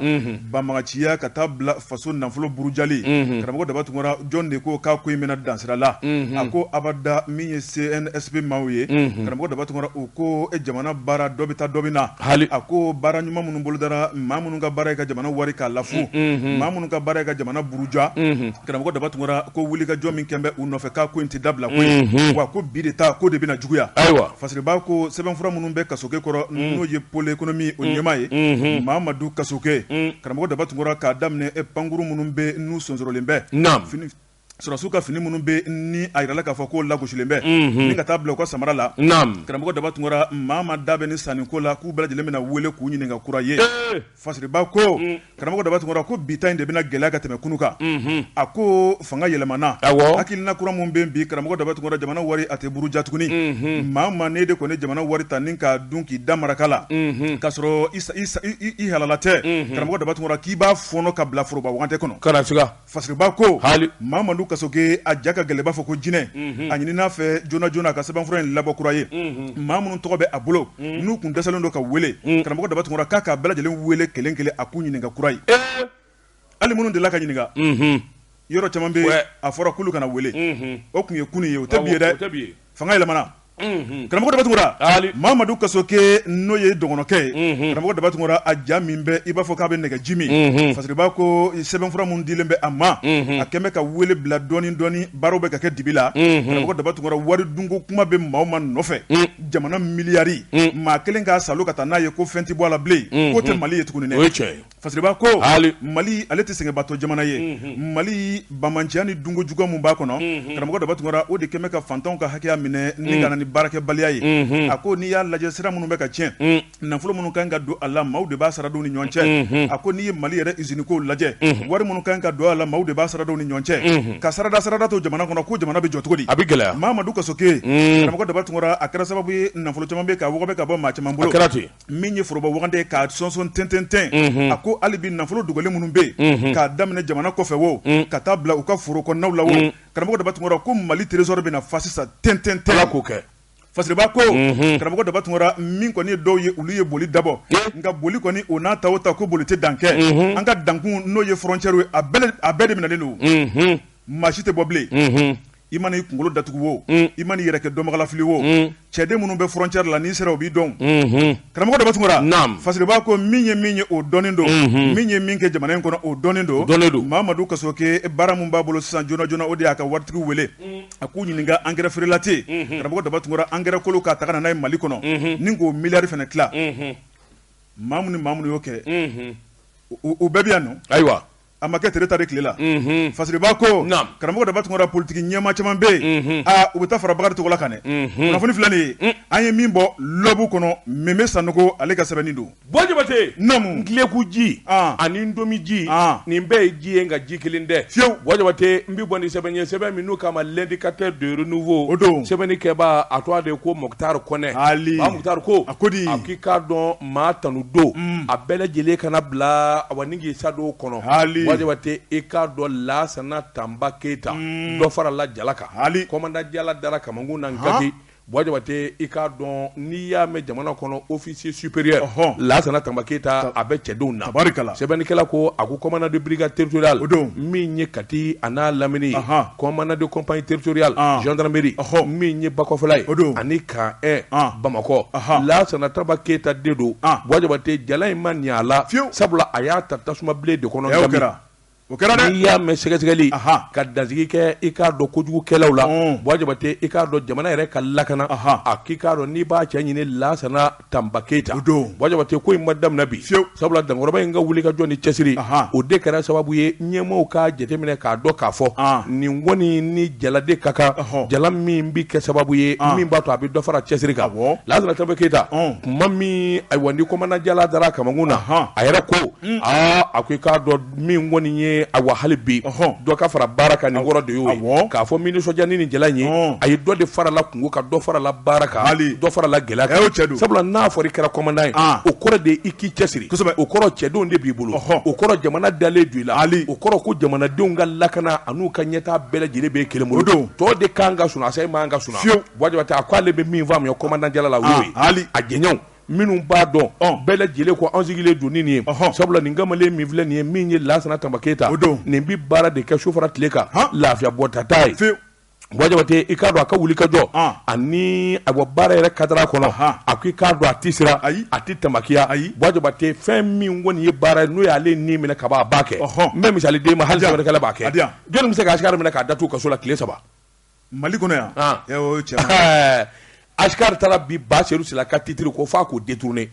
banbaganciya ka taa bila faso nafolo burujali karamɔgɔ daba tunkara jɔn de ko k'a ko in bɛna dan sira la a ko abada min ye CNSP maaw ye karamɔgɔ daba tunkara o ko jamana baara dɔ bɛ taa dɔ bɛ na hali a ko baara ɲuman minnu bolodara maa minnu ka baara ye ka jamana wari k'a lafu maa minnu ka baara ye ka jamana buruja Karamɔgɔ daba tunkara ko wulikajɔ min kɛlen bɛ u nɔfɛ k'a ko in tɛ dabila koyi wa ko bi de ta ko de bɛna juguya ayiwa fajiriba ko sɛbɛnfura minnu bɛ kasoke kɔrɔ n'o ye pôle économique o ɲɛmaa ye mamadu kasoke karamɔgɔ daba tunkara k'a daminɛ e pankurun minnu bɛ n'u sonsorolen bɛ sɔrɔdasiw ka fini minnu bɛ ni a yirala k'a fɔ k'o lagosilen bɛ ka taa bila u ka samara la karamɔgɔ daba tunkara maa maa da bɛ nin sanniko la k'u bɛɛ lajɛlen bɛna na weele k'u ɲininka kura ye Fajiriba ko karamɔgɔ daba tunkara ko bi ta in de bɛna gɛlɛya ka tɛmɛ kunun kan a ko fanga yɛlɛmana hakilina kura min bɛ bi karamɔgɔ daba tunkara jamana wari a tɛ buruja tuguni maa maa n'e de kɔni ye jamana wari ta nin k'a dun k'i da maraka la ka sɔrɔ i halala tɛ karamɔgɔ daba tunkara k'i b'a fɔɔnɔ ka bila foroba wagandɛ kɔnɔ Fajiriba ko hali mamadu kasoke a ja ka gɛlɛn b'a fɔ ko jinɛ a ɲinin'a fɛ joona joona a ka sɛbɛnfura in labɔ kura ye maa minnu tɔgɔ bɛ a bolo n'u tun dɛsɛlen don ka weele karamɔgɔ daba tunkara k'a k'a bɛɛ lajɛlen weele kelen kelen a k'u ɲininka kura ye hali minnu dela ka ɲininka yɔrɔ caman bɛ a fɔra k'olu kana weele o tun ye kunun ye o tɛ bi ye dɛ fanga yɛlɛmana karamɔgɔ daba tunkara mamadu kasoke n'o ye dɔgɔnɔkɛ ye karamɔgɔ daba tunkara a ja min bɛ i b'a fɔ k'a bɛ nɛgɛji min fasiriba ko sɛbɛnfura minnu dilen bɛ a ma a kɛlen bɛ ka weele bila dɔɔni dɔɔni baaraw bɛ ka kɛ dibi la karamɔgɔ daba tunkara wari dunko kuma bɛ maa o maa nɔfɛ jamana miliyari maa kelen k'a salo ka taa n'a ye ko fɛn tɛ bɔ a la bilen k'o tɛ mali ye tuguni dɛ Fasiriba ko mali ale tɛ sɛgɛnbatɔ jamana ye mali bamanciya ni dunko juguya min b'a kɔnɔ karamɔgɔ daba tunkara o de kɛlen ka fantanw ka hakɛya minɛ ni ka na ni baarakɛbaliya ye a ko n'i y'a lajɛ sira minnu bɛ ka tiɲɛ nafolo minnu kan ka don a la maaw de b'a sara don ni ɲɔgɔn cɛ a ko n'i ye mali yɛrɛ usine kow lajɛ wari minnu kan ka don a la maaw de b'a sara don ni ɲɔgɔn cɛ ka sarada to jamana kɔnɔ ko jamana bɛ jɔ cogo di a bɛ gɛlɛya mamadu kasoke karamɔgɔ daba tunkara a kɛra sababu ye nafolo caman bɛ ka wɔgɔbɛ ka bɔ maa caman bolo kɛra ten min ye foroba wagande k'a sɔnsɔn ntɛntɛntɛn unhun a ko hali bi nafolo dogolen minnu bɛ yen unhun k'a daminɛ jamana kɔfɛ wo un ka taa bila u ka foro kɔnɔnaw la wo un karamɔgɔ Daba Tunkara ko Mali trésor bɛna fa sisan tɛntɛntɛn Ala k'o kɛ Fasiriba ko unhun karamɔgɔ Daba Tunkara min kɔni ye dɔw ye olu ye boli dabɔ ee nka boli kɔni o n'a ta o ta ko boli tɛ dan kɛ unhun an ka dankun n'o ye frontière ye a bɛɛ de minɛnen don unhun maa si tɛ bɔ bilen unhun i mana i kunkolo datugu wo mm. i mana i yɛrɛ kɛ dɔnbagalafili wo mm. cɛden minnu bɛ frontière la n'i sera o b'i dɔn mm-hmm. karamɔgɔ daba tunkara fasiriba ko min ye min ye o dɔnnen don mm-hmm. min ye min kɛ jamana in kɔnɔ o dɔnnen don mamadu kasoke baara min b'a bolo sisan joona joona o de y'a ka waritigiw wele mm. a k'u ɲininka engrais frelaté mm-hmm. karamɔgɔ daba tunkara engrais kolon k'a ta ka na n'a ye mali kɔnɔ ni k'o miliyari fana tila maa minnu ni maa minnu y'o kɛ u bɛɛ bɛ yan nɔ ayiwa A ma kɛ tereta de tile la fasiriba ko karamɔgɔ daba tunkara politiki ɲɛmaa caman bɛ yen u bɛ taa fara bakari togola kan dɛ kunnafoni filɛ nin ye an ye min bɔ l'aube kɔnɔ meme sanɔgɔ ale ka sɛbɛnni don bɔ jabate namu ntileku ji ani ntomi ji nin bɛɛ ye ji ye nka ji kelen tɛ fiyewu bɔ jabate n bɛ bɔ ni sɛbɛn ye sɛbɛn min n'u k'a ma l'indicateur de renouveau o don sɛbɛnnikɛba a tɔgɔ de ko mokutari kɔnɛ mokutari ko a ko k'i k'a dɔn maa tanu don mm. a bɛɛ lajɛlen kana bila awa ni k'i sa don kɔnɔ bɔ jabate i k'a dɔn lasana tanba keyita mm. dɔ farala jala kan commandant jala dara kamankun na kati bɔ jabate i k'a dɔn n'i y'a mɛn jamana kɔnɔ officier supérieur lasana tanba keyita a bɛ cɛdenw na sɛbɛnnikɛla ko a ko commandant de brigade territoriale o don min ye kati a n'a lamini ye commandant de compagnie territoriale gendarmerie min ye bakɔfɛla ye o don ani Camp un bamakɔ lasana tanba keyita de don bɔ jabate jala in ma ni a la sabula a y'a ta tasumabilen de kɔnɔ o kɛra dɛ n'i y'a mɛn sɛgɛsɛgɛli ka dansigi kɛ i k'a dɔn kojugukɛlaw la bɔ jabate i k'a dɔn jamana yɛrɛ ka lakana a k'i k'a dɔn n'i b'a cɛ ɲini lasana tanba keyita bɔ jabate ko in ma daminɛ bi sabula dankɔrɔba in ka wuli ka jɔ ni cɛsiri o de kɛra sababu ye ɲɛmɔgɔw k'a jateminɛ k'a dɔn k'a fɔ nin kɔni ni jala de ka kan jala min bɛ kɛ sababu ye min b'a to a bɛ dɔ fara cɛsiri kan lasana tanba keyita kuma min ayiwa ni kɔmandan jala dara a kamankun na a yɛrɛ ko aa a ko i k'a dɔn min kɔni ye awa hali bi dɔ ka fara baara kan nin yɔrɔ de y'o ye k'a fɔ min nisɔndiya ni nin jala ye a ye dɔ de farala kunko kan dɔ farala baara kan dɔ farala gɛlɛya kan sabula n'a fɔra i kɛra kɔmandan ye o kɔrɔ de i k'i cɛsiri o kɔrɔ cɛdenw de b'i bolo o kɔrɔ jamana dalen don i la hali o kɔrɔ ko jamanadenw ka lakana an'u ka ɲɛtaa bɛɛ lajɛlen b'e kelen bolo tɔ de kan ka suna e man kan ka suna bɔ jabate a ko ale bɛ min faamuya kɔmandan jala la o ye hali a jɛɲɔgɔnw minnu b'a dɔn bɛɛ lajɛlen ko an sigilen don nin ye sabula nin kamalen min filɛ nin ye min ye lasana tanba keyita nin bɛ baara de kɛ su fara tile kan lafiya bɔta t'a ye bɔ jabate i k'a dɔn a ka wulikajɔ ani a bɔ baara yɛrɛ kadara kɔnɔ a ko i k'a dɔn a tɛ siran a tɛ tamakiya bɔ jabate fɛn min kɔni ye baara ye n'o y'ale nin minɛ ka ban a b'a kɛ n bɛ misali d'e ma hali sɛbɛnnikɛla b'a kɛ jɔn bɛ se ka asikari minɛ k'a datugu kaso la tile saba Mali kɔnɔ yan asikari taara bi ba seyidu sila ka titiri ko f'a k'o détourner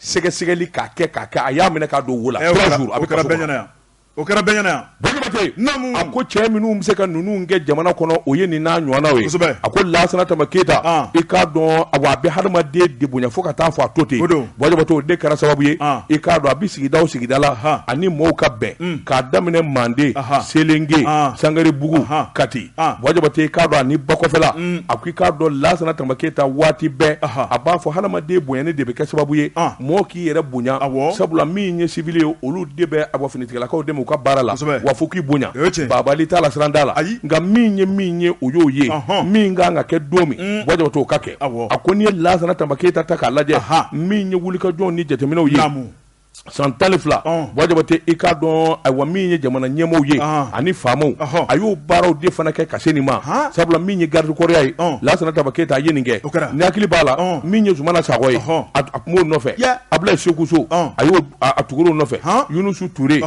sɛgɛsɛgɛli k'a kɛ k'a kɛ a y'a minɛ k'a don wo la o kɛra bɛɛ ɲɛ na yan a ko cɛ minnu bɛ se ka ninnu kɛ jamana kɔnɔ o ye nin n'a ɲɔgɔnnaw ye a ko lasana tanba keyita i k'a dɔn awa a bɛ hadamaden de bonya fo ka taa fɔ a to ten Bɔ jabate o de kɛra sababu ye i k'a dɔn a bɛ sigida o sigida la ani mɔgɔw ka bɛn k'a daminɛ manden selenke sangarebugu kati bɔ jabate i k'a dɔn ani bakɔfɛla a ko i k'a dɔn lasana tanba keyita waati bɛɛ a b'a fɔ hadamaden bonyani de bɛ kɛ sababu ye mɔgɔ k'i yɛrɛ bonya sabula min ye siwili ye olu de bɛ aw finitigilakaw dɛmɛ u ka baara la wa fo k'i bonya bagabagali t'a la siran t'a la nka min ye min ye o y'o ye min ka kan ka kɛ don min bɔ jabate o ka kɛ a ko n'i ye lasana tanba keyita ta k'a lajɛ min ye wulikajɔ ni jateminɛw ye san tan ni fila bɔ jabate i k'a dɔn ayiwa min ye jamana ɲɛmɔgɔw ye ani faamaw a y'o baaraw de fana kɛ ka se nin ma sabula min ye garidikɔriya ye lasana tanba keyita a ye nin kɛ n hakili b'a la min ye zumana sakɔ ye a tun b'o nɔfɛ abulayi seku so a y'o a tugur'o nɔfɛ yunusi ture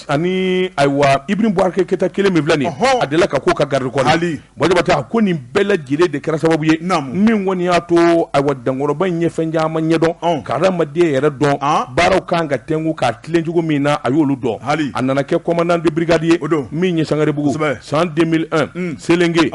ani ayiwa iburahima bubakari keyita kelen min filɛ nin a delila ka k'o ka garidikɔri Baba ko nin bɛɛ lajɛlen de kɛra sababu ye min kɔni y'a to a wa dankɔrɔba in ɲɛ fɛn caman ɲɛdɔn ka adamadamaden yɛrɛ dɔn baaraw kan ka tɛmɛ k'a tilencogo min na a y'olu dɔn hali a nana kɛ kɔman di birikadi ye o don min ye sangaɛrɛbugu san selenke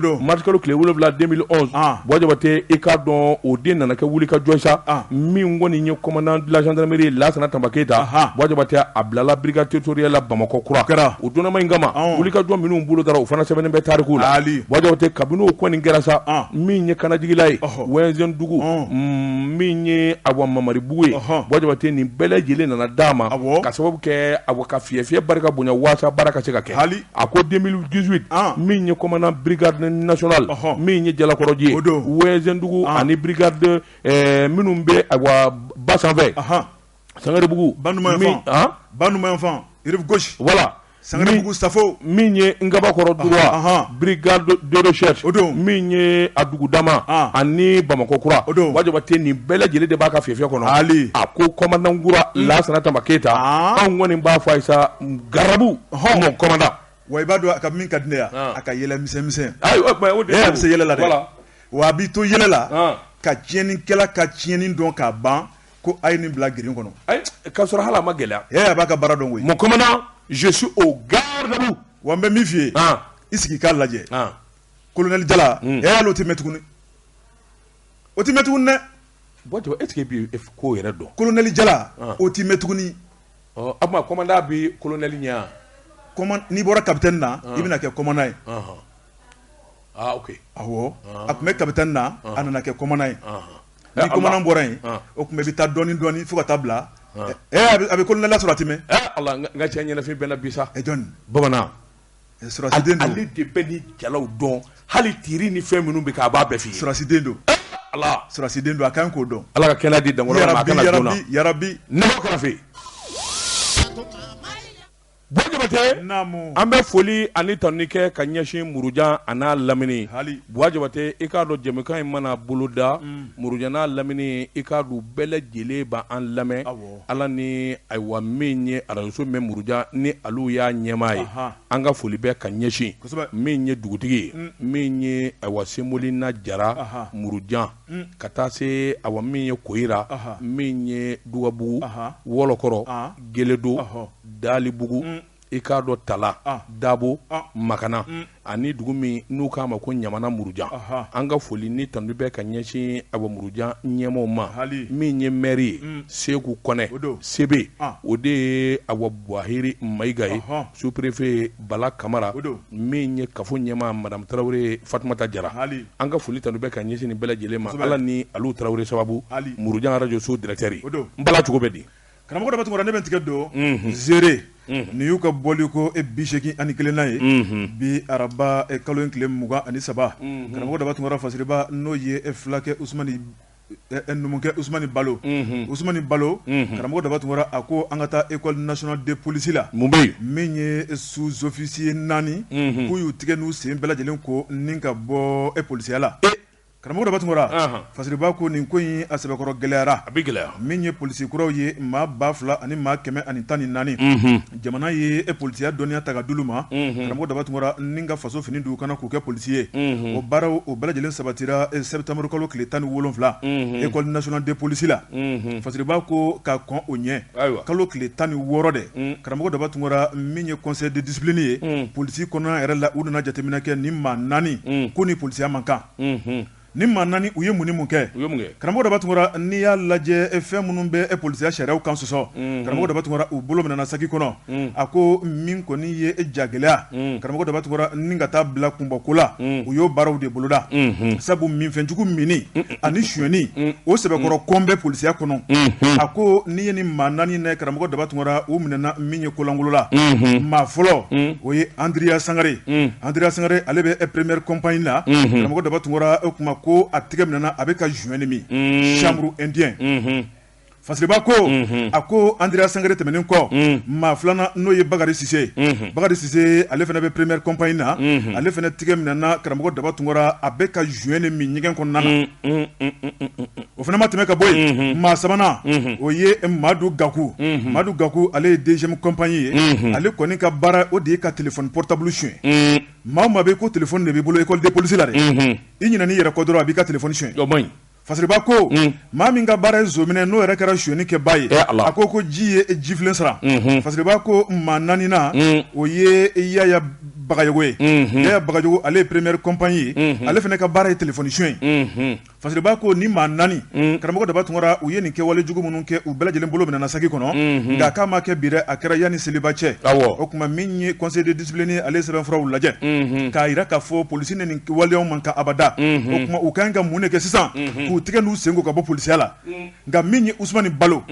don marikalo tile wolowula baba i k'a dɔn o den nana kɛ wuli ka jɔn sa min kɔni ye kɔman dilajanmeiri lasana tama keyita ta baba a bilala birikatorala bamakɔ kura kɛra Dunanma in kama wulikajɔ minnu bolodara u fana sɛbɛnnen bɛ tariku la buwa jabate kabini o kɔni kɛra sa min ye kanajigila ye wɛnzɛndugu min ye awa mamaribugu ye buwa jabate nin bɛɛ lajɛlen nana d'a ma ka sababu kɛ awa ka fiyɛfiyɛ barika bonya waasa baara ka se ka kɛ a ko deux mille dix-huit min ye commandant brigade nationale min ye jalakɔrɔji ye wɛnzɛndugu ani brigade minnu bɛ awa ba sanfɛ Sangarebugu gauche voilà sangarebugu safo min ye ngabakɔrɔ droit brigade de recherche min ye a dugu dama ani bamakɔ kura buwa jabate nin bɛɛ lajɛlen de b'a ka fiyɛfiyɛ kɔnɔ a ko commandant kura lasana tanba keyita anw kɔni b'a fɔ a ye sa garde à vous mon commandant wa i b'a dɔn a ka min ka di ne ye a ka yɛlɛmisɛn a bɛ se yɛlɛ la wa a b'i to yɛlɛ la ka tiɲɛnikɛla ka tiɲɛni dɔn k'a ban ko a ye nin bila grille kɔnɔ k'a sɔrɔ hali a ma gɛlɛya e a b'a ka baara dɔn koyi mon commandant je suis au garde à vous wa n bɛ min f'i ye i sigi k'a lajɛ colonel jala hmm. e hali o tɛ mɛɛn tuguni o tɛ mɛɛn tuguni dɛ bon tu est-ce que e bi ko yɛrɛ dɔn colonel jala o tɛ mɛɛn tuguni ɔ a tuma commandant bi colonel ɲɛ yan commandant n'i bɔra capitaine na i bɛna kɛ commandant ye ah ok awɔ a tun bɛ capitaine na a nana kɛ commandant ye Ni Ala. commandant bɔra yen An. o tuma i bɛ taa dɔɔni dɔɔni fo ka taa bila An. ɛ a bɛ- a bɛ colonel la sɔrɔ a tɛ mɛɛn Eh, Ala n ka- n ka cɛ ɲɛnafin bɛ n na bi sa ɛ jɔni bamanan ɛ, sɔrɔsiden don ale de bɛ nin jalaw dɔn hali tiri ni fɛn minnu bɛ kɛ a b'a bɛɛ f'i ye sɔrɔsiden don Eh, Ala sɔrɔsiden don a kan k'o dɔn Ala ka kɛnɛya di dankɔrɔ ma a yarabi kana joona yarabi yarabi ne b'o kɔrɔ fɛ yen an bɛ foli ani tanuni kɛ ka ɲɛsin murujan a n'a lamini buwa jabate i k'a dɔn jɛmukan in mana boloda murujan n'a lamini i k'a dɔn bɛɛ lajɛlen b' an lamɛn ala ni ayiwa min ye arajoso mɛn murujan ni alu y'a ɲɛmaa ye an ka foli bɛ ka ɲɛsin min ye dugutigi ye min ye ayiwa semolina jara murujan ka taa se awa min ye koyira min ye dugabugu wɔlɔkɔrɔ geledo Dalibugu i k'a dɔn tala dabo makana ani dugu min n'u k'a ma ko ɲamana murujan an ka foli ni tanu bɛ ka ɲɛsin awa murujan ɲɛmaaw ma min ye mɛri ye seku kɔnɛ sebe o de ye awa buhari mayiga ye superefe bala kamara min ye kafo ɲɛmaa madamu tarawele fatumata jara an ka foli ni tanu bɛ ka ɲɛsin nin bɛɛ lajɛlen ma ala ni alu tarawele sababu murujan arajoso directeur bala cogo bɛ di Karamɔgɔ daba tungara ne bɛ tigɛ don zere nin y'u ka bɔli ko e bi segin ani kelennan ye bi araba kalo in tile mugan ani saba karamɔgɔ daba tungara fasiriba n'o ye e filakɛ numukɛ usmani balo usmani balo karamɔgɔ daba tungara a ko an ka taa école nationale de police la mun bɛ yen min ye sous-officier naani k'u y'u tigɛ n'u sen bɛɛ lajɛlen ko ni ka bɔ e polisiya la Karamɔgɔ daba tungara fasiriba ko nin ko in a sɛbɛkɔrɔ gɛlɛyara a bɛ gɛlɛya min ye polisi kuraw ye maa ba fila ani maa kɛmɛ ani tan ni naani jamana ye e polisiya dɔnniya ta ka d'olu ma karamɔgɔ daba tungara ni ka faso fini d'u kan na k'u kɛ polisi ye o baaraw o bɛɛ lajɛlen sabatira e sɛtanburukalo tile tan ni wolonwula école nationale de police la fasiriba ko ka kɔn o ɲɛ kalo tile tan ni wɔɔrɔ dɛ karamɔgɔ daba tungara min ye conseil de discipline ye polisi kɔnɔna yɛrɛ la u nana jateminɛ kɛ ni maa naani k'u ni polisiya man kan ni maa naani u ye mun ni mun kɛ karamɔgɔ daba tungara n'i y'a lajɛ fɛn minnu bɛ e polisiya sariya kan sɔsɔ karamɔgɔ daba tungara u bolo minɛna sagi kɔnɔ a ko min kɔni ye e jagɛlɛya karamɔgɔ daba tungara ni ka taa bila kunbɔko la u y'o baaraw de boloda sabu minfɛnjugu min ani sonyɛni o sɛbɛkɔrɔ kɔn bɛ polisiya kɔnɔ a ko n'i ye ni maa naani ne karamɔgɔ daba tungara u minɛna min ye kolankolo la maa fɔlɔ o ye andrea sangare andrea sangare ale bɛ e première compagnie na karamɔgɔ daba tungara o tuma ko a tɛgɛ minɛna a bɛ ka joint min chanvre indien fasiriba ko a ko andrea sangare tɛmɛnen kɔ maa filanan n'o ye bakari sise bakari sise ale fana bɛ première compagnie na ale fana tigɛ minɛna karamɔgɔ daba tungara a bɛ ka joint de min ɲɛgɛn kɔnɔna na o fana ma tɛmɛ ka bɔ yen maa sabanan o ye madu gaku madu gaku ale ye deuxième compagnie ye ale kɔni ka baara o de ye ka téléphone portable sonyɛ maa maa bɛ ko téléphone de b'i bolo école de police la dɛ i ɲinan'i yɛrɛ kɔ dɔrɔn a b'i ka téléphone son Fasiriba ko maa min ka baara ye zon minɛ n'o yɛrɛ kɛra sonyɛnikɛbaa ye a ko ko ji ye jifilen sara fasiriba ko maa naaninan o ye yaya bagayɔgɔ ye yaya bagayɔgɔ ale ye première compagnie ye ale fana ka baara ye téléphone sonyɛ ye fasiriba ko ni maa naani karamɔgɔ daba tungara u ye nin kɛwale jugu minnu kɛ u bɛɛ lajɛlen bolo minɛna sagi kɔnɔ nka k'a ma kɛ bi dɛ a kɛra yanni seliba cɛ o tuma min ye conseil de discipline ale sɛbɛnfuraw lajɛ mhm. k'a jira k'a fɔ polisi ni nin waleyaw man kan abada mhm. o tuma u ka ɲi ka mun de kɛ sisan mhm. k'u tigɛ n'u sen ko ka bɔ polisiya la nka min ye usumani balo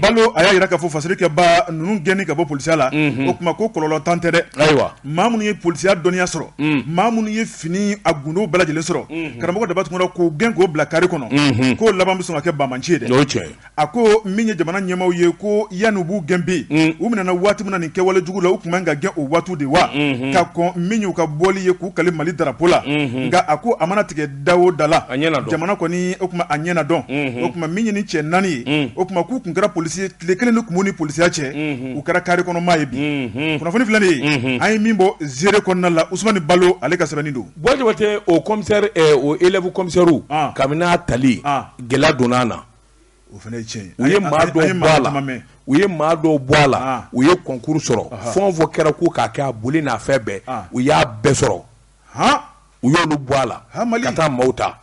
balo a y'a jira k'a fɔ fasiri kɛba ninnu gɛnni ka bɔ polisiya la o tuma ko kɔlɔlɔntan tɛ dɛ ayiwa maa minnu ye polisiya dɔnniya sɔrɔ maa minnu ye fini a gundow bɛɛ lajɛlen sɔrɔ karamɔgɔ daba tungara k'u gɛn k'o bila kari kɔnɔ k'o laban bɛ sɔn ka kɛ banbaanci ye dɛ a ko min ye jamana ɲɛmaw ye ko yanni u b'u gɛn bi mm. u minɛna waati min na nin kɛwale jugu la u tun man ka gɛn o waatiw de wa mm-hmm. ka kɔn min y'u ka bɔli ye k'u kali mali darapo la mm-hmm. nka a ko a mana tigɛ da o da la jamana kɔni o tuma a ɲɛ na dɔn mm-hmm. o tuma min ye nin cɛ naani ye mm. o tuma k'u tun kɛra polisi ye tile kelen de tun b'u ni polisiya cɛ u kɛra kari kɔnɔ maa ye bi kunnafoni filɛ nin ye an ye min bɔ zire kɔnɔna la usumani balo ale ka sɛbɛnni don bɔjɔbate o commissaire eh, o élève commissaire ah. kabini a tali ah. gɛlɛya donna a na o fana ye tiɲɛ u ye maa dɔw bɔ a la u ye maa dɔw bɔ a la u ye kɔnkuru sɔrɔ fɛn o fɛn kɛra ko k'a kɛ a boli n'a fɛn bɛɛ u y'a bɛɛ sɔrɔ u y'olu bɔ a la ka taa maaw ta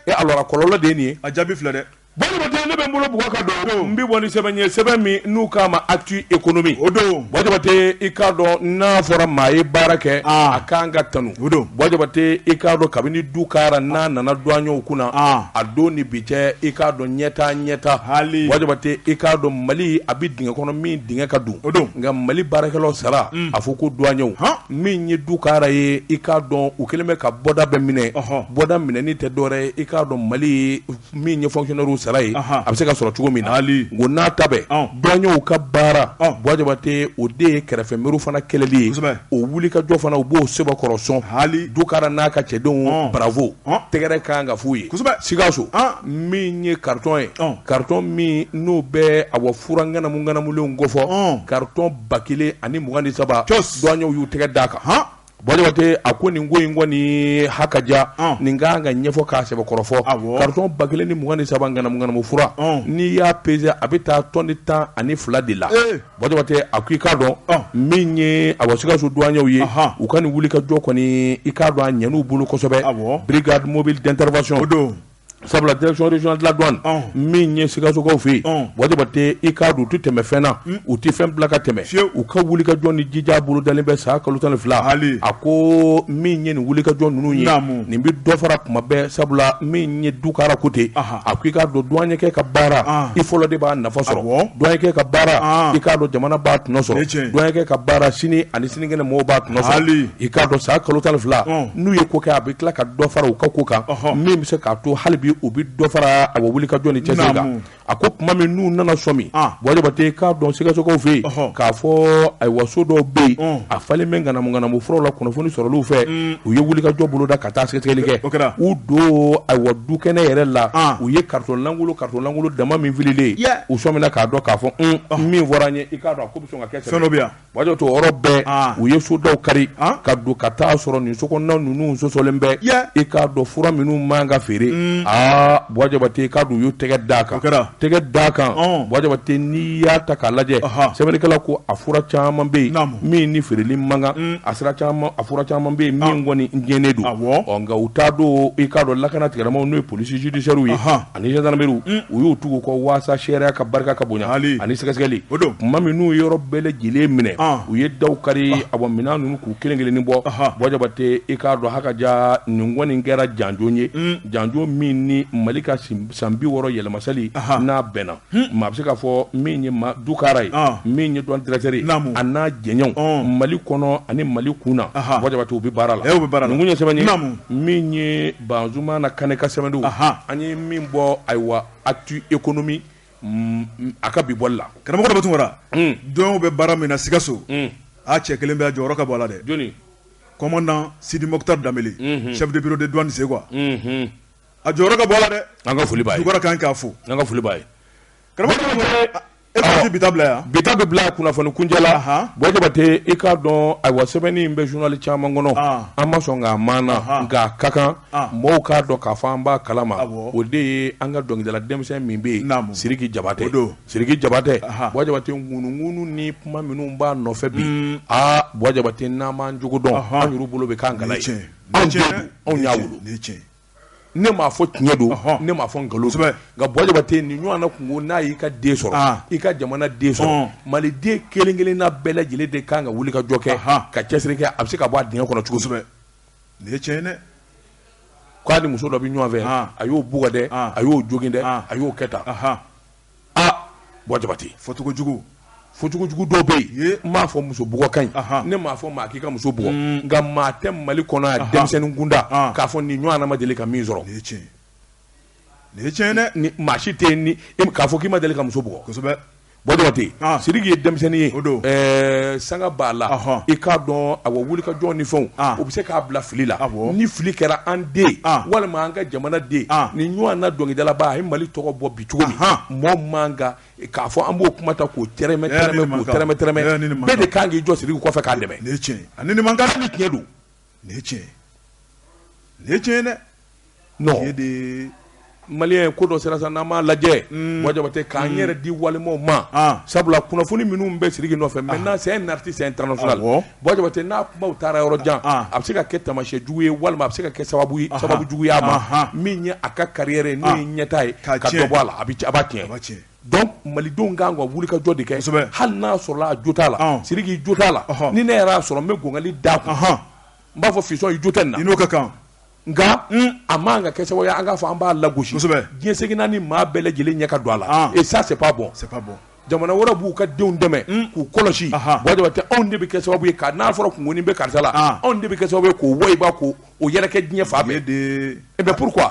e alors kɔlɔlɔ de ye nin ye a jaabi filɛ dɛ bɔjɔbate ne bɛ n bolo bugɔ ka don n bɛ bɔ ni sɛbɛn ye sɛbɛn min n'u k'a ma actu économie o don bɔjɔbate i k'a dɔn n'a fɔra maa ye baara kɛ a kan ka tanu o don bɔjɔbate i k'a dɔn kabini dukara n'a nana duwani kunna a don ni bi Cɛ i k'a dɔn ɲɛtaa ɲɛtaa hali bɔjɔbate i k'a dɔn mali a bɛ dingɛ kɔnɔ min dingɛ ka dun o don nka mali baarakɛlaw sara a fɔ ko duwaɲɛw min ye dukara ye i k'a dɔn u kɛlen bɛ ka bɔda bɛɛ minɛ bɔda minɛni tɛ dɔwɛrɛ ye i k'a dɔn mali min ye fonctionnaire sara ye a bɛ se ka sɔrɔ cogo min na hali k'o n'a ta bɛɛ duwaɲɛw ka baara bɔjɔbate o de ye kɛrɛfɛ muru fana kɛlɛli ye o wuli ka jɔ fana u b'o sɛbɛkɔrɔ sɔn hali dukara n'a ka cɛdenw bravo Tɛgɛrɛ ka kan ka f'u ye sikaso min ye karitɔn ye karitɔn min n'o bɛ awɔ fura ŋanamuŋanamulenw kofɔ karitɔn ba kelen ani mugan ni saba duwaɲɛw y'u tɛgɛ d'a kan hɔn bɔjɔbate a ko nin ko in kɔni ha ka ja nin ka kan ka ɲɛfɔ k'a sɛbɛkɔrɔ fɔ karitɔn ba kelen ni mugan ni saba ŋanamuŋanamu fura n'i y'a pese a bɛ taa tɔni tan ani fila de la Bɔjɔbate a ko i k'a dɔn min ye awɔ sikaso duwaɲɛw ye u ka nin wuli ka jɔ kɔni i k'a dɔn a ɲɛn'u bolo kosɛbɛ brigade mobile d'intervention o don sabula direction régionale de la douane min ye sikasokaw fɛ yen bɔjɔbate i k'a dɔn u tɛ tɛmɛ fɛn na u tɛ fɛn bila ka tɛmɛ fiye u ka wuli ka jɔ ni jija bolodalen bɛ san kalo tan ni fila hali a ko min ye nin wuli ka jɔ ninnu ye nin bɛ dɔ fara tuma bɛɛ sabula min ye dukara ko ten a ko i k'a dɔn duwaɲɛkɛ ka baara ah. i fɔlɔ de b'a nafa sɔrɔ ah, duwaɲɛkɛ ka baara ah. i k'a dɔn jamana b'a tɔnɔ sɔrɔ duwaɲɛkɛ ka baara sini ani sinikɛnɛ mɔgɔw b'a tɔnɔ sɔrɔ i k'a dɔn san kalo tan ni fila oh. n'u ye ko kɛ a bɛ tila ka dɔ fara u ka ko kan min bɛ se k'a to hali bi u bɛ dɔ fara a wuli ka jɔ ni cɛsiri kan a ko tuma min n'u nana sɔmi bɔjɔbate i k'a dɔn sikasokaw fɛ yen k'a fɔ ayiwa so dɔw bɛ yen oh. a falen bɛ ŋanamu ŋanamu furaw la kunnafoni sɔrɔliw fɛ mm. u ye wuli ka jɔ boloda ka taa sɛgɛsɛgɛli kɛ o kɛra u don ayiwa dukɛnɛ yɛrɛ la ah. u ye karitɔn lankolon karitɔn lankolon dama min fililen ye u sɔmina k'a dɔn k'a fɔ ah. min fɔra an ye i k'a dɔn a ko bɛ sɔn ka kɛ sɛbɛ bɔjɔbate o yɔrɔ bɛɛ ah. u ye sodaw kari ka don ka taa sɔrɔ nin sokɔnɔna ninnu sosolen bɛ i k'a dɔn fura minnu man ka feere mm. aa bɔjɔbate i k'a dɔn u y'u tɛgɛ d'a kan o kɛra Tɛgɛ d'a kan Buwa Jabate n'i y'a ta k'a lajɛ sɛbɛnnikɛla ko a fura caman bɛ yen min ni feereli man kan a fura caman bɛ yen min kɔni gɛnnen don ɔ nka u t'a dɔn i k'a dɔn lakana tigilamaw n'o ye police judiciaire ye ani gendarmerie u y'u tugu u kɔ waasa sariya ka barika ka bonya hali ani sɛgɛsɛgɛli o don tuma min n'u yɔrɔ bɛɛ lajɛlen minɛ u ye daw kari a bɔ minɛn ninnu k'u kelen- kelen bɔ Buwa Jabate i k'a dɔn ha ka ja nin kɔni kɛra janjo ye janjo min ni mali ka sin san bi wɔɔrɔ yɛlɛma sali n'a bɛnna maa bɛ se k'a fɔ min ye Dukara ye min ye douane directeur ye a n'a jɛɲɔgɔnw mali kɔnɔ ani mali kunna Buwa Jabate u bɛ baara la bɛ baara nin kun ye sɛbɛn min ye Banzumana Kane ka sɛbɛn don an ye min bɔ ayiwa Actu Économie a ka bi bɔli la karamɔgɔ bɛ tunra dɔw bɛ baara min na sikaso a cɛ kelen bɛ a jɔyɔrɔ ka bon a la dɛ commandant Sidi Mokhtar Dambele chef de bureau de douane Zégoua a jɔyɔrɔ ka bon a la dɛ an ka foli b'a ye Dukara kan k'a fo an ka foli b'a ye karamɔgɔ bi ta bila yan bi ta bɛ bila kunnafoni kuncɛ la Buwa Jabate i k'a dɔn ayiwa sɛbɛnni in bɛ journal caman kɔnɔ an ma sɔn k'a maana nka a ka kan mɔgɔw k'a dɔn k'a fɔ an b'a kalama o de ye an ka dɔnkilidala denmisɛnnin min bɛ yen Sidiki Jabate don Sidiki Jabate Buwa Jabate ŋunuŋunu ni kuma minnu b'a nɔfɛ bi aa Buwa Jabate n'an m'an cogo dɔn an yɛrɛ bolo bɛ kan anw y'a ne m'a fɔ tiɲɛ don ne m'a fɔ nkalon nka Buwa Jabate nin ɲɔgɔnna kunko n'a y'i ka den sɔrɔ i ka jamana den sɔrɔ mali den kelen kelenna bɛɛ lajɛlen de kan ka wuli ka jɔ kɛ ka cɛsiri kɛ a bɛ se ka bɔ a dingɛ kɔnɔ cogo kosɛbɛ nin ye tiɲɛ ye dɛ k'a ni muso dɔ bɛ ɲɔgɔn fɛ a y'o bugɔ dɛ a y'o jogin dɛ a y'o kɛ tan Aa Buwa Jabate, fɔcogo jugu, fɔcogo jugu dɔw bɛ yen, n m'a fɔ muso bugɔ ka ɲi, ne m'a fɔ maa k'i ka muso bugɔ, nka maa tɛ Mali kɔnɔ yan denmisɛnnin kunda k'a fɔ nin ɲɔgɔnna ma deli ka min sɔrɔ, nin ye tiɲɛ ye, nin ye tiɲɛ ye dɛ, ni maa si tɛ yen k'a fɔ k'i ma deli ka muso bugɔ, kosɛbɛ, Buwa Jabate, Sidiki ye denmisɛnnin ye, o don, ɛɛ sanga b'a la, ɔhɔ, i k'a dɔn awɔ wulikajɔ ni fɛnw, ɔn, o bɛ se k'a bila fili la, awɔ, ni fili kɛra an den, ɔn, walima an ka jamana den, ɔn, nin ɲɔgɔnna dɔnkilidalaba a ye Mali tɔgɔ bɔ bi cogo min mɔgɔ man kan k'a fɔ an b'o kuma ta k'o tɛrɛmɛ tɛrɛmɛ k'o tɛrɛmɛ tɛrɛmɛ bɛɛ de kan k'i jɔ Sidiki kɔfɛ k'a dɛmɛ nin ye tiɲɛ ye ani nin man kan nin tiɲɛ don nin ye tiɲɛ ye nin ye tiɲɛ ye dɛ non nin ye de ye maliyɛn ye ko dɔ sera sa n'an m'a lajɛ hmm. Buwa Jabate k'an hmm. yɛrɛ di wali maaw ma ah. sabula kunnafoni minnu bɛ Sidiki nɔfɛ ah. maintenant c'est un artiste international Jabate n'a kumaw taara yɔrɔ jan a bɛ se ka kɛ taamasiyɛn jugu ye walima a bɛ se ka kɛ sababu jugu ye a ma min ye a ka carrière ye n'o ye ɲɛtaa ye ka dɔ bɔ a la a b'a tiɲɛ donc malidenw kan ka wuli ka jɔ de kɛ hali n'a sɔrɔla a jo t'a la Sidiki jo t'a la ni ne yɛrɛ y'a sɔrɔ n bɛ gɔnkali d'a kun n b'a fɔ fiston i jo tɛ nin na a ka kan nka a man ka kɛ sababu ye an k'a fɔ an b'a lagosi diɲɛ seginna ni maa bɛɛ lajɛlen ɲɛ ka don a la et ça c'est pas bon jamana wɛrɛ b'u ka denw dɛmɛ k'u kɔlɔsi bwa jabate anw de bɛ kɛ sababu ye ka n'a fɔra kunkonin bɛ karisa la anw de bɛ kɛ sababu ye k'o wayiba ko o yɛrɛkɛ diɲɛ fan bɛɛ eh ben pourquoi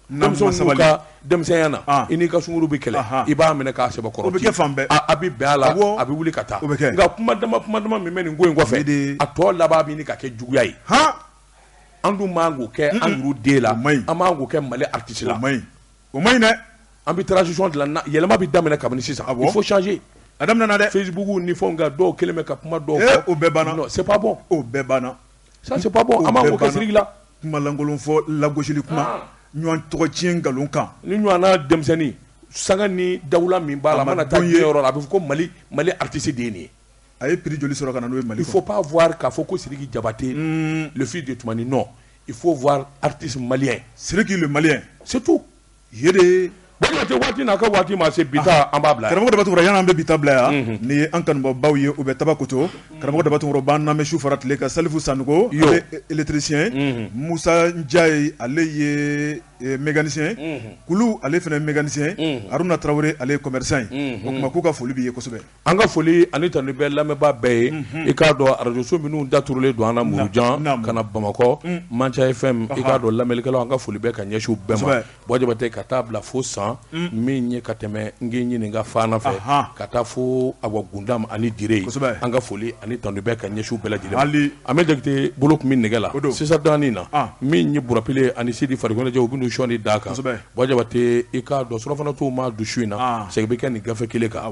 denmisɛnya na i n'i ka sunguru bɛ kɛlɛ i b'a minɛ k'a sɛbɛkɔrɔ o bɛ kɛ fan bɛɛ a bɛ bɛn a la a bɛ wuli ka taa bɛ kɛ nka kuma dama kuma dama min bɛ nin ko in kɔfɛ de a tɔ laban bɛ ɲini ka kɛ juguya ye e an dun man k'o kɛ an yɛrɛ den la an man k'o kɛ mali artiste la o man ɲi dɛ an bɛ transition dilan yɛlɛma bɛ daminɛ kabini sisan il faut changer a daminɛna dɛ facebook ni fɛnw kan dɔw kelen bɛ ka kuma dɔw fɔ o bɛɛ banna c'est pas bon o bɛɛ banna Ça c'est pas bon an man k'o kɛ siriki la kumalankolon fɔ lagosili kuma ɲɔgɔn tɔgɔ tiɲɛ nkalon kan ni ɲɔgɔnna denmisɛnnin sanga ni dawula min b'a la a mana taa diɲɛ yɔrɔ la a bɛ fɔ ko mali malien artiste de ye nin ye a ye prix joli sɔrɔ ka na n'o ye mali il faut pas voir k'a fɔ ko siriki jabate le fils de tumani non il faut voir artiste malien siriki le malien c'est tout jabate waati n'a ka waati ma se bi ta an b'a bila karamɔgɔ daba tunkara yan an bɛ bi ta bila yan ni ye an kanubaabaw ye u bɛ tabakoto karamɔgɔ daba tunkara u b'an lamɛn su fara tile kan salifu sanɔgɔ ale électricien musa ndiaye ale ye mécanicien kulu ale fana mécanicien haruna tarawele ale ye commerçant ye o kuma k'u ka foli b'i ye kosɛbɛ An ka foli ani tanu bɛ lamɛnbaa bɛɛ ye i k'a dɔn arajoso minnu daturulen don an na murujan ka na bamakɔ manca FM i k'a dɔn lamɛnlikɛlaw an ka foli bɛ ka ɲɛsin u bɛɛ ma bwa jabate ka taa bila fo san min ye ka tɛmɛ geɲeka fana fɛ ka taa fo awa gundam ani dire an ka foli ani tanu bɛ ka ɲɛsin u bɛɛ lajɛlen ma amɛdi jakite bolo tun bɛ nɛgɛ la sisan dɔɔnin na min ye burapile ani sidi farikoloncɛ u bɛ sɔɔni d'a kan bwa jabate i k'a dɔn surɔfana tuma don su in na segin bɛ kɛ nin gafe kelen kan